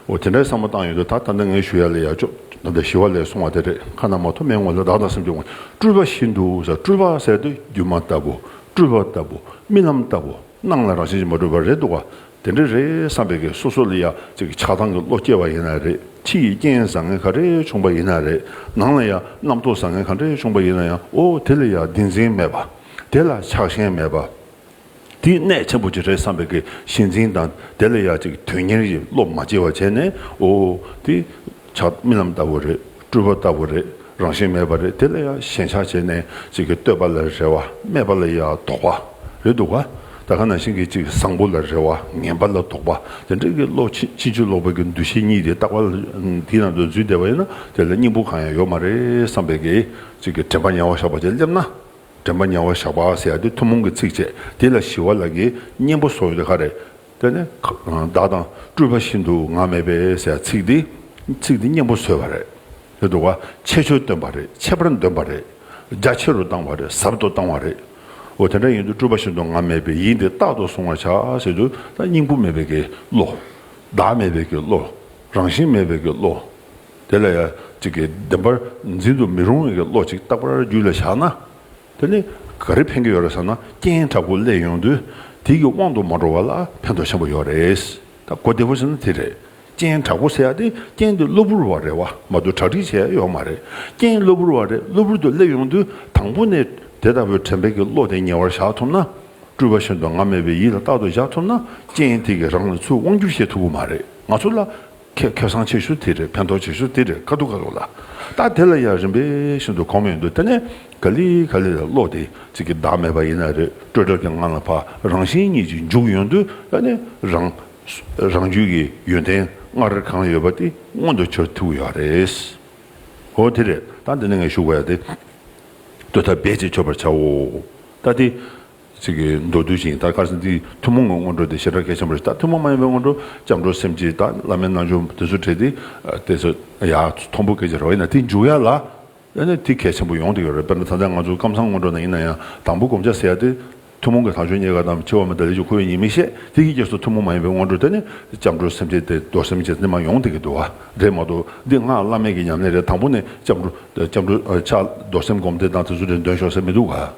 འོ་དེ་འདྲའི་བསམ་བློ་བཏང་ཡོད་དུས་ད་ད་ནི་ངས་ཞུ་ཡ་ལས་ཡ་ཅོ་ད་ད་ཞི་བ་ལས་སོང་བ་དེ་རེད་ཁ་ན་མ་ཐོ་མའི་ངོ་ལ་བདག་དང་སེམས་ཀྱི་ངོ་སྤྲུལ་པ་ཞིག་འདུག་བཟའ་སྤྲུལ་པ་ཟེར་དུས་སྒྱུ་མ་ལྟ་བུ་སྤྲུལ་པ་ལྟ་བུ་རྨི་ལམ་ལྟ་བུ་སྣང་ལ་རང་བཞིན་གྱིས་མ་གྲུབ་པ་རེད་འདུག་ག་དེ་འདྲ་རེད་བསམ་པའི་གེ་སོ་སོ་ལ་ཡ་གཅིག་གི་ཆགས་སྡང་གི་བློ་སྐྱེ་བ་ཡིན་ན་རེད་ཕྱི་ཡི་རྐྱེན་བཟང་ངན་ག་རེ་བྱུང་པ་ཡིན་ན་རེད་ནང་ལ་ཡ་རྣམ་རྟོག་བཟང་ངན་ག་འདྲ་བྱུང་པ་ཡིན་ན་ཡང་ཨོ་དེ་ལ་ཡ་བདེན་འཛིན་མེད་པ། དེ་ལ་ཆགས་ཞེན་མེད་པ། དེ་གནད་ཆེན་པོ་གཅིག་རེད་བསམ་པའི་གེ་ཞེན་འཛིན་དང་དེ་ལ་ཡ་གཅིག་དོན་གཉེར་གྱི་བློ་མ་སྐྱེ་བ་བྱས་ནས་ཨོ་དེ། བྱ། རྨི་ལམ་ལྟ་བུ་རེད། སྤྲུལ་པ་ལྟ་བུ་རེད། རང་བཞིན་མེད་པ་རེད་དེ་ལ་ཡང་ཞེན་ཆགས་བྱས་ནས་ཅིག་གིས་བསྟོད་པ་ལ་རེ་བ། སྨད་པ་ལ་ཡང་དོགས་པ། རེད་འདུག་ག། ད་ག་ནང་བཞིན་གྱི་ཅིག་བཟང་པོ་ལ་རེ་བ། ངན་པ་ལ་དོགས་པ། དེ་འདྲ་གི་བློ་ཕྱིན་ཅི་བྱུས་ལོག་པའི་གི་འདུ་ཤེས་གཉིས་དེ་རྟག་པར་དེའི་ནང་དུ་འཛུལ་བསྡད་པ་ཡིན་ན་དེ་ལ་སྙིང་པོ་གང་ཡང་ཡོད་མ་རེད་བསམ་པའི་གི་ཅིག་གི་དྲན་པ་ཉལ་བ་བཞག་པ་བཅས་སླེབས་ན། དྲན་པ་ཉལ་བ་བཞག་པ་ཟེར་ཡ་དེ་ཐུན་མོང་གི་ཚིགས་བཅད་དེ་ལ་ཞི་བ་ལ་གི་གཉེན་པོ་སོགས་ཡོད་ད་ག་རེད། དེ་ནི་བདག་དང་སྤྲུལ་པ་ཤིན་ཏུ་ང་མེད་པས་ཟེར་ཚིག་འདི་ཚིག་འདི་སྙིང་པོ་བཟོས་པ་རེད་དེ་འདུག་བ་ཆེ་ཆུ་བཏོན་པ་རེད་ཆེ་བར་འདོན་པ་རེད་རྒྱ་ཆེ་རུ་བཏང་བ་རེད་ཟབ་ཏུ་བཏང་བ་རེད་འོ་དེ་འདྲ་ཡིན་དུས་སྤྲུལ་པ་ཤིན་ཏུ་ང་མེད་པས་ཡིད་འདི་རྟག་ཏུ་བཟུང་བར་བྱ་ཟེར་དུས་ད་སྙིང་པོ་མེད་པས་ཀྱི་བློ། བདག་མེད་པས་ཀྱི་བློ། རང་བཞིན་མེད་པས་ཀྱི་བློ། དེ་ལ་ཡང་ཅིག་གིས་བདེན་པར་འཛིན་དུ་མི་རུང་བས་ཀྱི་བློ་ཅིག་རྟག་པར་རྒྱུད་ལ་བཞག་ན། དེ་ནི་ག་རེ་ཕན་གྱི་ཡོད་རེད་ཟེར་ན་རྐྱེན་དྲག་པོ་གླས་ཡོང་དུས་དེ་གི་དབང་དུ་མ་འགྲོ་བ་ལ་ཕན་ཐོགས་ཆེན་པོ་ཡོད་རེད། ད་གོ་བདེ་བོ་བྱས་ན་དེ་རེད། རྐྱེན་དྲག་པོ་ཟེར་ཡག་དེ་རྐྱེན་དེ་གློ་བུར་བ་རེད་བ་མ་གཏོགས་གྲ་སྒྲིག་བྱས་ཡག་ཡོད་མ་རེད། རྐྱེན་གློ་བུར་བ་རེད་གློ་བུར་དུ་གླས་ཡོང་དུས་དང་པོ་ནས་དེ་ལྟ་བུའི་དྲན་པའི་གི་བློ་དེ་ཉེ་བར་བཞག་ཐུབ་ན། སྤྲུལ་པ་བཞིན་དུ་ང་མེད་པའི་ཡིད་ལ་རྟག་ཏུ་བཞག་ཐུབ་ན་རྐྱེན་དེ་གི་རང་ལ་ཚུར་དབང་བསྒྱུར་བྱེད་ཐུབ་པོ་མ་རེད་ང་ཚོ་ལ་ཁྱེད་ཁེ་བཟང་བྱེད་ཤུགས་དེ་རེད་ཕན་ཐོགས་བྱེད་ཤུགས་དེ་རེད་ཁ་ཐུག་ཁ་ཐུག་ལ། ད་དེ་ལ་ཡང་རིམ་པས་ཤིན་ཏུ་གོ་མི་འདུག་དེ་ནས་ག་ལི་ག་ལི་ལ་བློ་དེ་གཅིག་གི་བདག་མེད་པ་ཡིན་ན་རེད་སྤྲོས་བྲལ་གྱི་ངང་ལ་བ་རང་བཞིན་གཉིས་ཀྱི་འཇུག་ཡོང་དུས་ད་ནི་རང། རང་རྒྱུད་ཀྱི་ཡོན་ཏན་སྔར་གང་ཡོད་པ་དེ་མངོན་དུ་གྱུར་ཐུབ་ཡོད་རེད། ཨོ་དེ་རེད་ད་འདི་ནས་ངས་ཞུ་དགོས་ཡ་དེ། བསྟོད་ཐབས་རྦད་ཅིག་ཁྱོད་པར་བྱའོ། ད་དེ། ཚིག་གི་མདོ་བསྡུས་ཤིང་ལྟར་དཀར་སེམས་ཀྱིས་ཐུན་མོང་གི་སྔོན་འགྲོ་དེ་ཞེ་དྲག་གེ་ཆེན་པོ་རེ་ལྟར་ཐུན་མོང་མ་ཡིན་པའི་སྔོན་འགྲོ་སྐྱབས་འགྲོ་སེམས་ཀྱིས་ལྟར་བླ་མའི་རྣལ་འབྱོར་དེ་ཚུལ་བྲལ་ཏེ་སྟེ། ཡང་དང་པོ་གལ་ཆེ་རེ་བ་ཡིན་ན་དེ་འཇུག་ཡ་ལ། ཡང་ན་དེ་གལ་ཆེན་པོ་ཡོང་དུ་ཡོད་རེ་བ་དཔེར་ན་ཚང་ཚིང་ང་ཚོ་སྐམ་སང་སྔོན་འགྲོ་ན་ཡིན་ན་ཡང་དང་པོ་བསྒོམ་བྱ་ཟེར་ཡ་དེ། ཐུན་མོང་གི་དག་ཆོས་རྙེད་དཀའ་དང་ཆེ་བ་མེད་ད་ལས་ཀྱི་ཁོ་བོས་ཉིད་མི་ཤེས་དེ་ཡི་གེར་སོགས་ཐུན་མོང་མ་ཡིན་པའི་སྔོན་འགྲོ་དེ་ནི་སྐྱབས་འགྲོ་སེམས་ཀྱིས་ཏེ་རྡོར་སེམས་ཀྱིས་ནི་མ་ཡོང་དེ་གི་འདུ་བ་རེད་མ་གཏོགས་འདི་སྔགས་བླ་མེད་ཀྱི་ཉམས་ལེན་རེད་དང་པོ་ནས་སྐྱབས་འགྲོ། ཕྱག་འགྲོ། རྡོར་སེམས་བསྒོམ་དེ་དང་དེ་ཚུལ་བྲལ་འདོན་ཤོག་ཟེར་མི་འདུག་ག།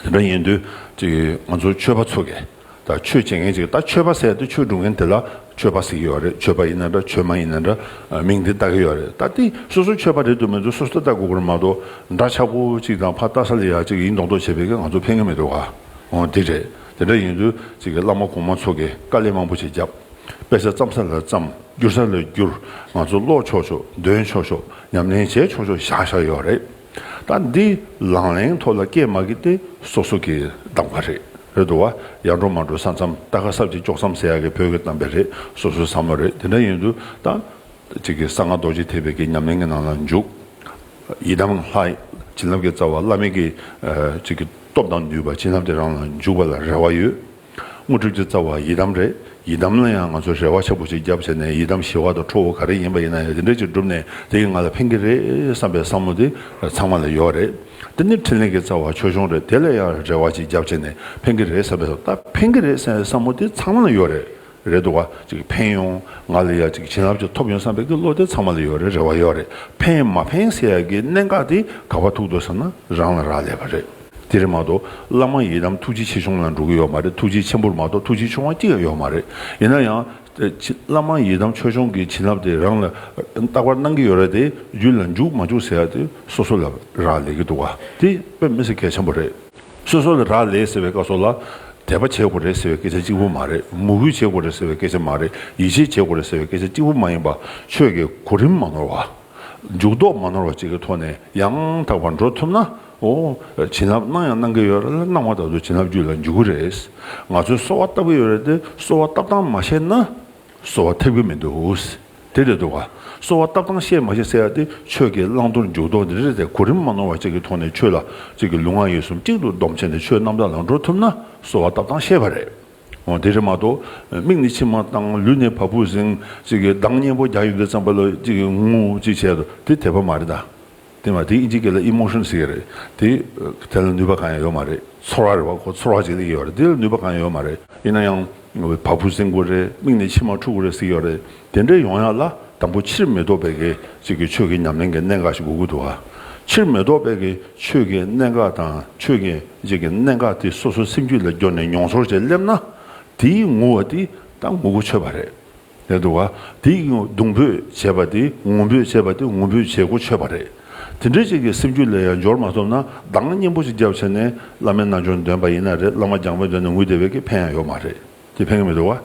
དེ་འདྲ་ཡིན་དུས་ཅིག་ང་ཚོ་ཆོས་པ་ཚོ་གས་ད་ཆོས་བྱེད་མཁན་ཅིག་ད་ཆོས་པ་ཟེར་དུས་ཆོས་སྒྲུབ་མཁན་དེ་ལ་ཆོས་པ་ཟེར་གྱི་ཡོད་རེད་ཆོས་པ་ཡིན་ན་འདྲ་ཆོས་མ་ཡིན་ན་འདྲ་མིང་དེ་བཏགས་ཀྱི་ཡོད་རེད་ད་དེ་སོ་སོ་ཆོས་པ་རེད་དུ་མེད་དུ་སོ་སོ་ལྟ་དགོས་ཀྱི་མ་གཏོགས་འདྲ་ཆགས་པོ་ཅིག་དང་ཕ་རྟ་ས་ལ་ཡ་ཅིག་ཡིན་མདོག་མདོག་བྱེད་པའི་གས་ང་ཚོ་ཕན་གྱི་མི་འདུག་ག་དེ་རེད་དེ་འདྲ་ཡིན་དུས་ཅིག་གས་བླ་མ་གོང་མ་ཚོ་གས་དཀའ་ལས་མང་པོ་ཅིག་བརྒྱབ་དཔེ་ཆ་བརྩམས་ས་ལ་བརྩམས་བསྒྱུར་ས་ལ་བསྒྱུར་ང་ཚོ་ཀློག་ཆོག་ཆོག་འདོན་ཆོག་ཆོག་ཉམས་ལེན་བྱས་ཆོག་ཆོག་བཞག་བཞག་ཡོད་རེད། ད་འདི་ལང་ལེང་ཐོག་ལ་སྐད་མ་གི་ཏེ་སོ་སོ་གི་གདམ་ཀ་རེད་རེད་འདུག་བ་ཡག་འགྲོ་མ་འགྲོ་ས་མཚམས་ལྟ་ཁ་སབ་ཅིག་ལྕོག་མཚམས་ཟེར་ཡག་གི་བོད་གི་གདམ་པའི་རེད་སོ་སོའི་བསམ་བློ་རེད་དེ་འདྲ་ཡིན་དུས་ད་ཅིག་གི་གསང་སྔགས་རྡོ་རྗེ་ཐེག་པའི་གི་ཉམས་ལེན་གི་ནང་ལ་འཇུག་ཡི་དམ་ལྷ་བྱིན་རླབས་ཀི་རྩ་བ་བླ་མེད་གི་ཅིག་གི་སྟོབས་དང་ནུས་པ་བྱིན་རླབས་དེ་རང་ལ་འཇུག་པ་ལ་རེ་བ་ཡོད། དངོས་གྲུབ་ཀྱི་རྩ་བ་ཡི་དམ་རེད། ཡི་དམ་ལ་ཡང་ང་ཚོས་རེ་བ་ཆེན་པོ་ཞིག་བརྒྱབ་བྱས་ནས་ཡི་དམ་ཞི་བ་དང་ཁྲོ་བོ་ག་རེ་ཡིན་པ་ཡིན་ན་ཡང་དེ་འདྲ་ཅིག་བསྒྲུབས་ནས་དེ་ཡིས་ང་ལ་ཕན་གྱི་རེད་བསམ་པའི་བསམ་བློ་དེ་ཚང་མ་ལ་ཡོད་པ་རེད། འདི་ནི་འཕྲིན་ལས་ཀྱི་རྩ་བ་ཆོས་འབྱུང་རེད་དེ་ལ་ཡང་རེ་བ་ཅིག་བརྒྱབ་བྱས་ནས་ཕན་གྱི་རེད་བསམ་པའི་བསམ་བློ་དེ་ཚང་མ་ལ་ཡོད་རེད། རེད་བ། ཕན་ཡོང། ང་ལ་ཡག་བྱིན་རླབས་ཅིག་ཐོབ་ཡོང་བསམ་པའི་བློ་དེ་ཚང་མ་ལ་ཡོད་རེད་རེ་བ་ཡོད་རེད། ཕན་མ་ཕན་ཟེར་ཡག་གི་གནད་འགག་དེ་ག་བ་ཐུག་འདུག་ཟེར་ན་རང་ལ་རག་ལས་པ་རེད། དེ་རེད་མ་གཏོགས་བླ་མ་ཡི་དམ་ཐུགས་རྗེ་ཆེ་ཆུང་ལ་འགྲོ་གི་ཡོད་མ་རེད་ཐུགས་རྗེ་ཆེན་པོར་མ་གཏོགས་ཐུགས་རྗེ་ཆུང་བ་གཅིག་ལ་ཡོད་མ་རེད། ཡིན་ན་ཡང། བླ་མ་ཡི་དམ་ཆོས་སྐྱོང་གི་བྱིན་རླབས་དེ་རང་ལ་རྟག་པར་གནང་གི་ཡོད་རེད་དེ་རྒྱུད་ལ་འཇུག་མ་འཇུག་ཟེར་ཡག་དེ་སོ་སོ་ལ་རག་ལས་གི་འདུག་བ། དེ་དཔེ་མི་སེར་གལ་ཆེན་པོ་རེད། སོ་སོ་ལ་རག་ལས་ཟེར་བའི་སྐབས་སོགས་ལ། དད་པ་བྱེད་དགོས་རེད་ཟེར་བའི་སྐད་ཆ་གཅིག་པུ་མ་རེད། མོས་གུས་བྱེད་དགོས་རེད་ཟེར་བའི་སྐད་ཆ་མ་རེད། ཡིད་ཆེས་བྱེད་དགོས་རེད་ཟེར་བའི་སྐད་ཆ་གཅིག་པུ་མ་ཡིན་པ། ཆོས་ཀྱི་གོ་རིམ་མ་ནོར་བ། འཇུག་ལྡོག་མ་ནོར་བ་བཅས་ཀྱི་ཐོག་ནས་ཡང་དག་པར་འགྲོ་ཐུབ་ན། འོ། བྱིན་རླབས་གནང་ཡང་གནང་གི་ཡོད་རེད་ལ་གནང་བ་དག་ཏུ་བྱིན་རླབས་རྒྱུད་ལ་འཇུག་གི་རེད། ང་ཚོའི་གསོ་བ་བཏབ་ཀྱི་ཡོད་རེད་དེ་གསོ་བ་བཏབ་སྟངས་མ་ཤེས་ན། གསོལ་བ་ཐེབས་ཀྱི་མི་འདུག་དེ་རེད་འདུག་ག་གསོལ་བ་བཏབ་སྟངས་བཤད་མ་ཤེས་ཟེར་ཡག་དེ་ཆོས་ཀྱི་བླང་དོར་འཇུག་ལྡོག་འདི་རེད་ཟེར་གོ་རིམ་མ་ནོར་བ་ཅིག་གི་ཐོག་ནས་ཆོས་ལ་ཅིག་གི་ལུས་ངག་ཡིད་གསུམ་གཅིག་ཏུ་བསྡོམས་བྱས་ནས་ཆོས་རྣམ་དག་ལ་འགྲོ་ཐུབ་ན་གསོལ་བ་བཏབ་སྟངས་ཤེས་པ་རེད་འོང་དེ་རེད་མ་གཏོགས་མིག་ནི་མཆི་མ་བཏང་ལུས་ནི་བ་སྤུ་གཟེངས་ཅིག་གི་གདངས་སྙན་པོ་རྒྱག་ཡོད་དུ་བརྩམས་པ་ལ་ཅིག་གི་ངུ་འུ་ཅིག་བྱས་དེ་དེད་པ་མ་རེད་ད། བསྟན་པ་དེ་ཨི་འཇིགས་སྐད་ལ Emotion ཟེར་གྱི་རེད་དེ། དེ་ལ་ནུས་པ་གང་ཡང་ཡོད་མ་རེད། ཚོར་བ་རེད་བ་གོ་ཚོར་བ་ཅིག་ལ་ཡོད་རེད་དེ་ལ་ནུས་པ་གང་ཡང་ཡོད་མ་རེད། ཡིན་ན་ཡང། བ་སྤུ་གསེང་དགོས་རེད་མིག་ནས་མཆི་མ་འཁྲུག་དགོས་རེད་ཟེར་གྱི་རེད། དེ་འདྲས་ཡོང་ཡག་ལ་དང་པོ་ཕྱིར་མི་ལྡོག་པའི་གེ་ཅིག་གི་ཆོས་ཀྱི་ཉམས་ལེན་གྱི་གནད་འགག་ཞིག་དགོས་ཀྱི་འདུག་ག། ཕྱིར་མི་ལྡོག་པའི་གེ་ཆོས་ཀྱི་གནད་འགག་དང་ཆོས་ཀྱི་རྗེས་ཀྱི་གནད་འགག་དེ་སོ་སོའི་སེམས་རྒྱུད་ལ་སྦྱོར་ནས་མྱོང་ཚོར་བྱས་སླེབས་ན། དེའི་ངུ་བ་དེ་ད་ངུ་གོ་ཆོད་པ་རེད། ལས་འདུག་ག་དེ་ཡིག་ངོ་གདུང་འབོད་བྱས་པ་དེ་ངུ་འབོད་བྱས་པ་དེ་ངུ་འབོད་བྱེད་གོ་ཆོད་པ་རེད་དེ་འདྲའི་ཅིག་གི་སེམས་རྒྱུད་ལས་ཡང་འབྱོར་མ་ཐོབ་ན་གདངས་སྙན་པོ་ཅིག་རྒྱབ་བྱས་ནས་བླ་མའི་རྣལ་འབྱོར་འདོན་པ་ཡིན་ན་རེད་བླ་མ་རྒྱང་པོའི་མདུན་ནས་ངུས་བསྡད་པའི་གི་ཕན་ཡང་ཡོད་མ་རེད་དེ་ཕན་གི་མི་འདུག་ག་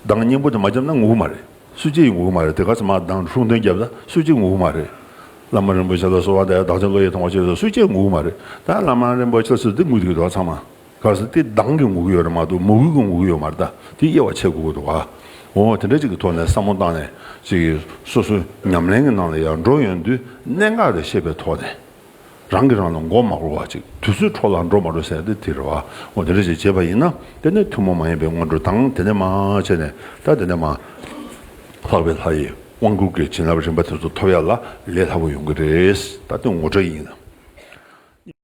གདངས་སྙན་པོ་དེ་མ་རྒྱབ་ན་ངུ་གི་མ་རེད་སུས་ཀྱིས་ངུ་གི་མ་རེད་དེ་ག་ཚོད་མང་གདངས་ཧྲུག་འདོན་རྒྱབ་ད་སུས་ཀྱིས་ངུ་གི་མ་རེད་བླ་མ་རིན་པོ་ཆེ་ལ་གསོལ་བ་འདེབས་ཡ་བདག་ཅག་བློ་ཡིད་ཐང་བ་ཅིག་རེད་ད་སུས་ཀྱིས་ངུ་གི་མ་རེད་ད་བླ་མ་རིན་པོ་ཆེ་ལ་གསོལ་འདི་ངུས་འདུག་གི་འདུག་ག་ཚང་མ། ག་ཟེར་ཏེ་གདངས་ཀྱི་ངུ་གུ་ཡོད་རེད་མ་གཏོགས་མོ་གུ་གི་ངུ་གུ་ཡོད་མ་རེད་ད་དེ་དབྱེ་བ་ཕྱེ་དགོས་ཀྱི་འདུག་ཨ་འོ་དེ་འདྲ་ཅིག་གི་ཐོག་ནས་བསམ་བློ་བཏང་ནས་ཅིག་སོ་སོ་ཉམས་ལེན་གྱི་ནང་ལ་ཡར་འགྲོ་ཡོང་དུས་གནད་འགག་རེ་ཤེས་པའི་ཐོག་ནས་རང་གིས་རང་ལ་མགོ་མ་སྒུར་བར་ཅིག་དུས་ཚོད་འཕྲོ་ལ་འགྲོ་མ་འགྲོ་ཟེར་ཏེ་དེ་རེད་ཨ་འོ་དེ་འདྲ་ཅིག་བྱེད་པ་ཡིན་ན་དེ་ནི་ཐུན་མོང་མ་ཡིན་པའི་སྔོན་འགྲོ་དང་དེ་ནས་མ་བྱས་ནས་ད་དེ་ནས་མ་ལྷག་པའི་ལྷ་ཡི་དབང་བསྐུར་གྱི་བྱིན་རླབས་རིམ་པ་དེ་ཚོ་ཐོབ་ཡ་ལ་ལས་སླ་པོ་ཡོང་གི་རེད་ད་དེ་ངོ་སྤྲོད་ཡིན།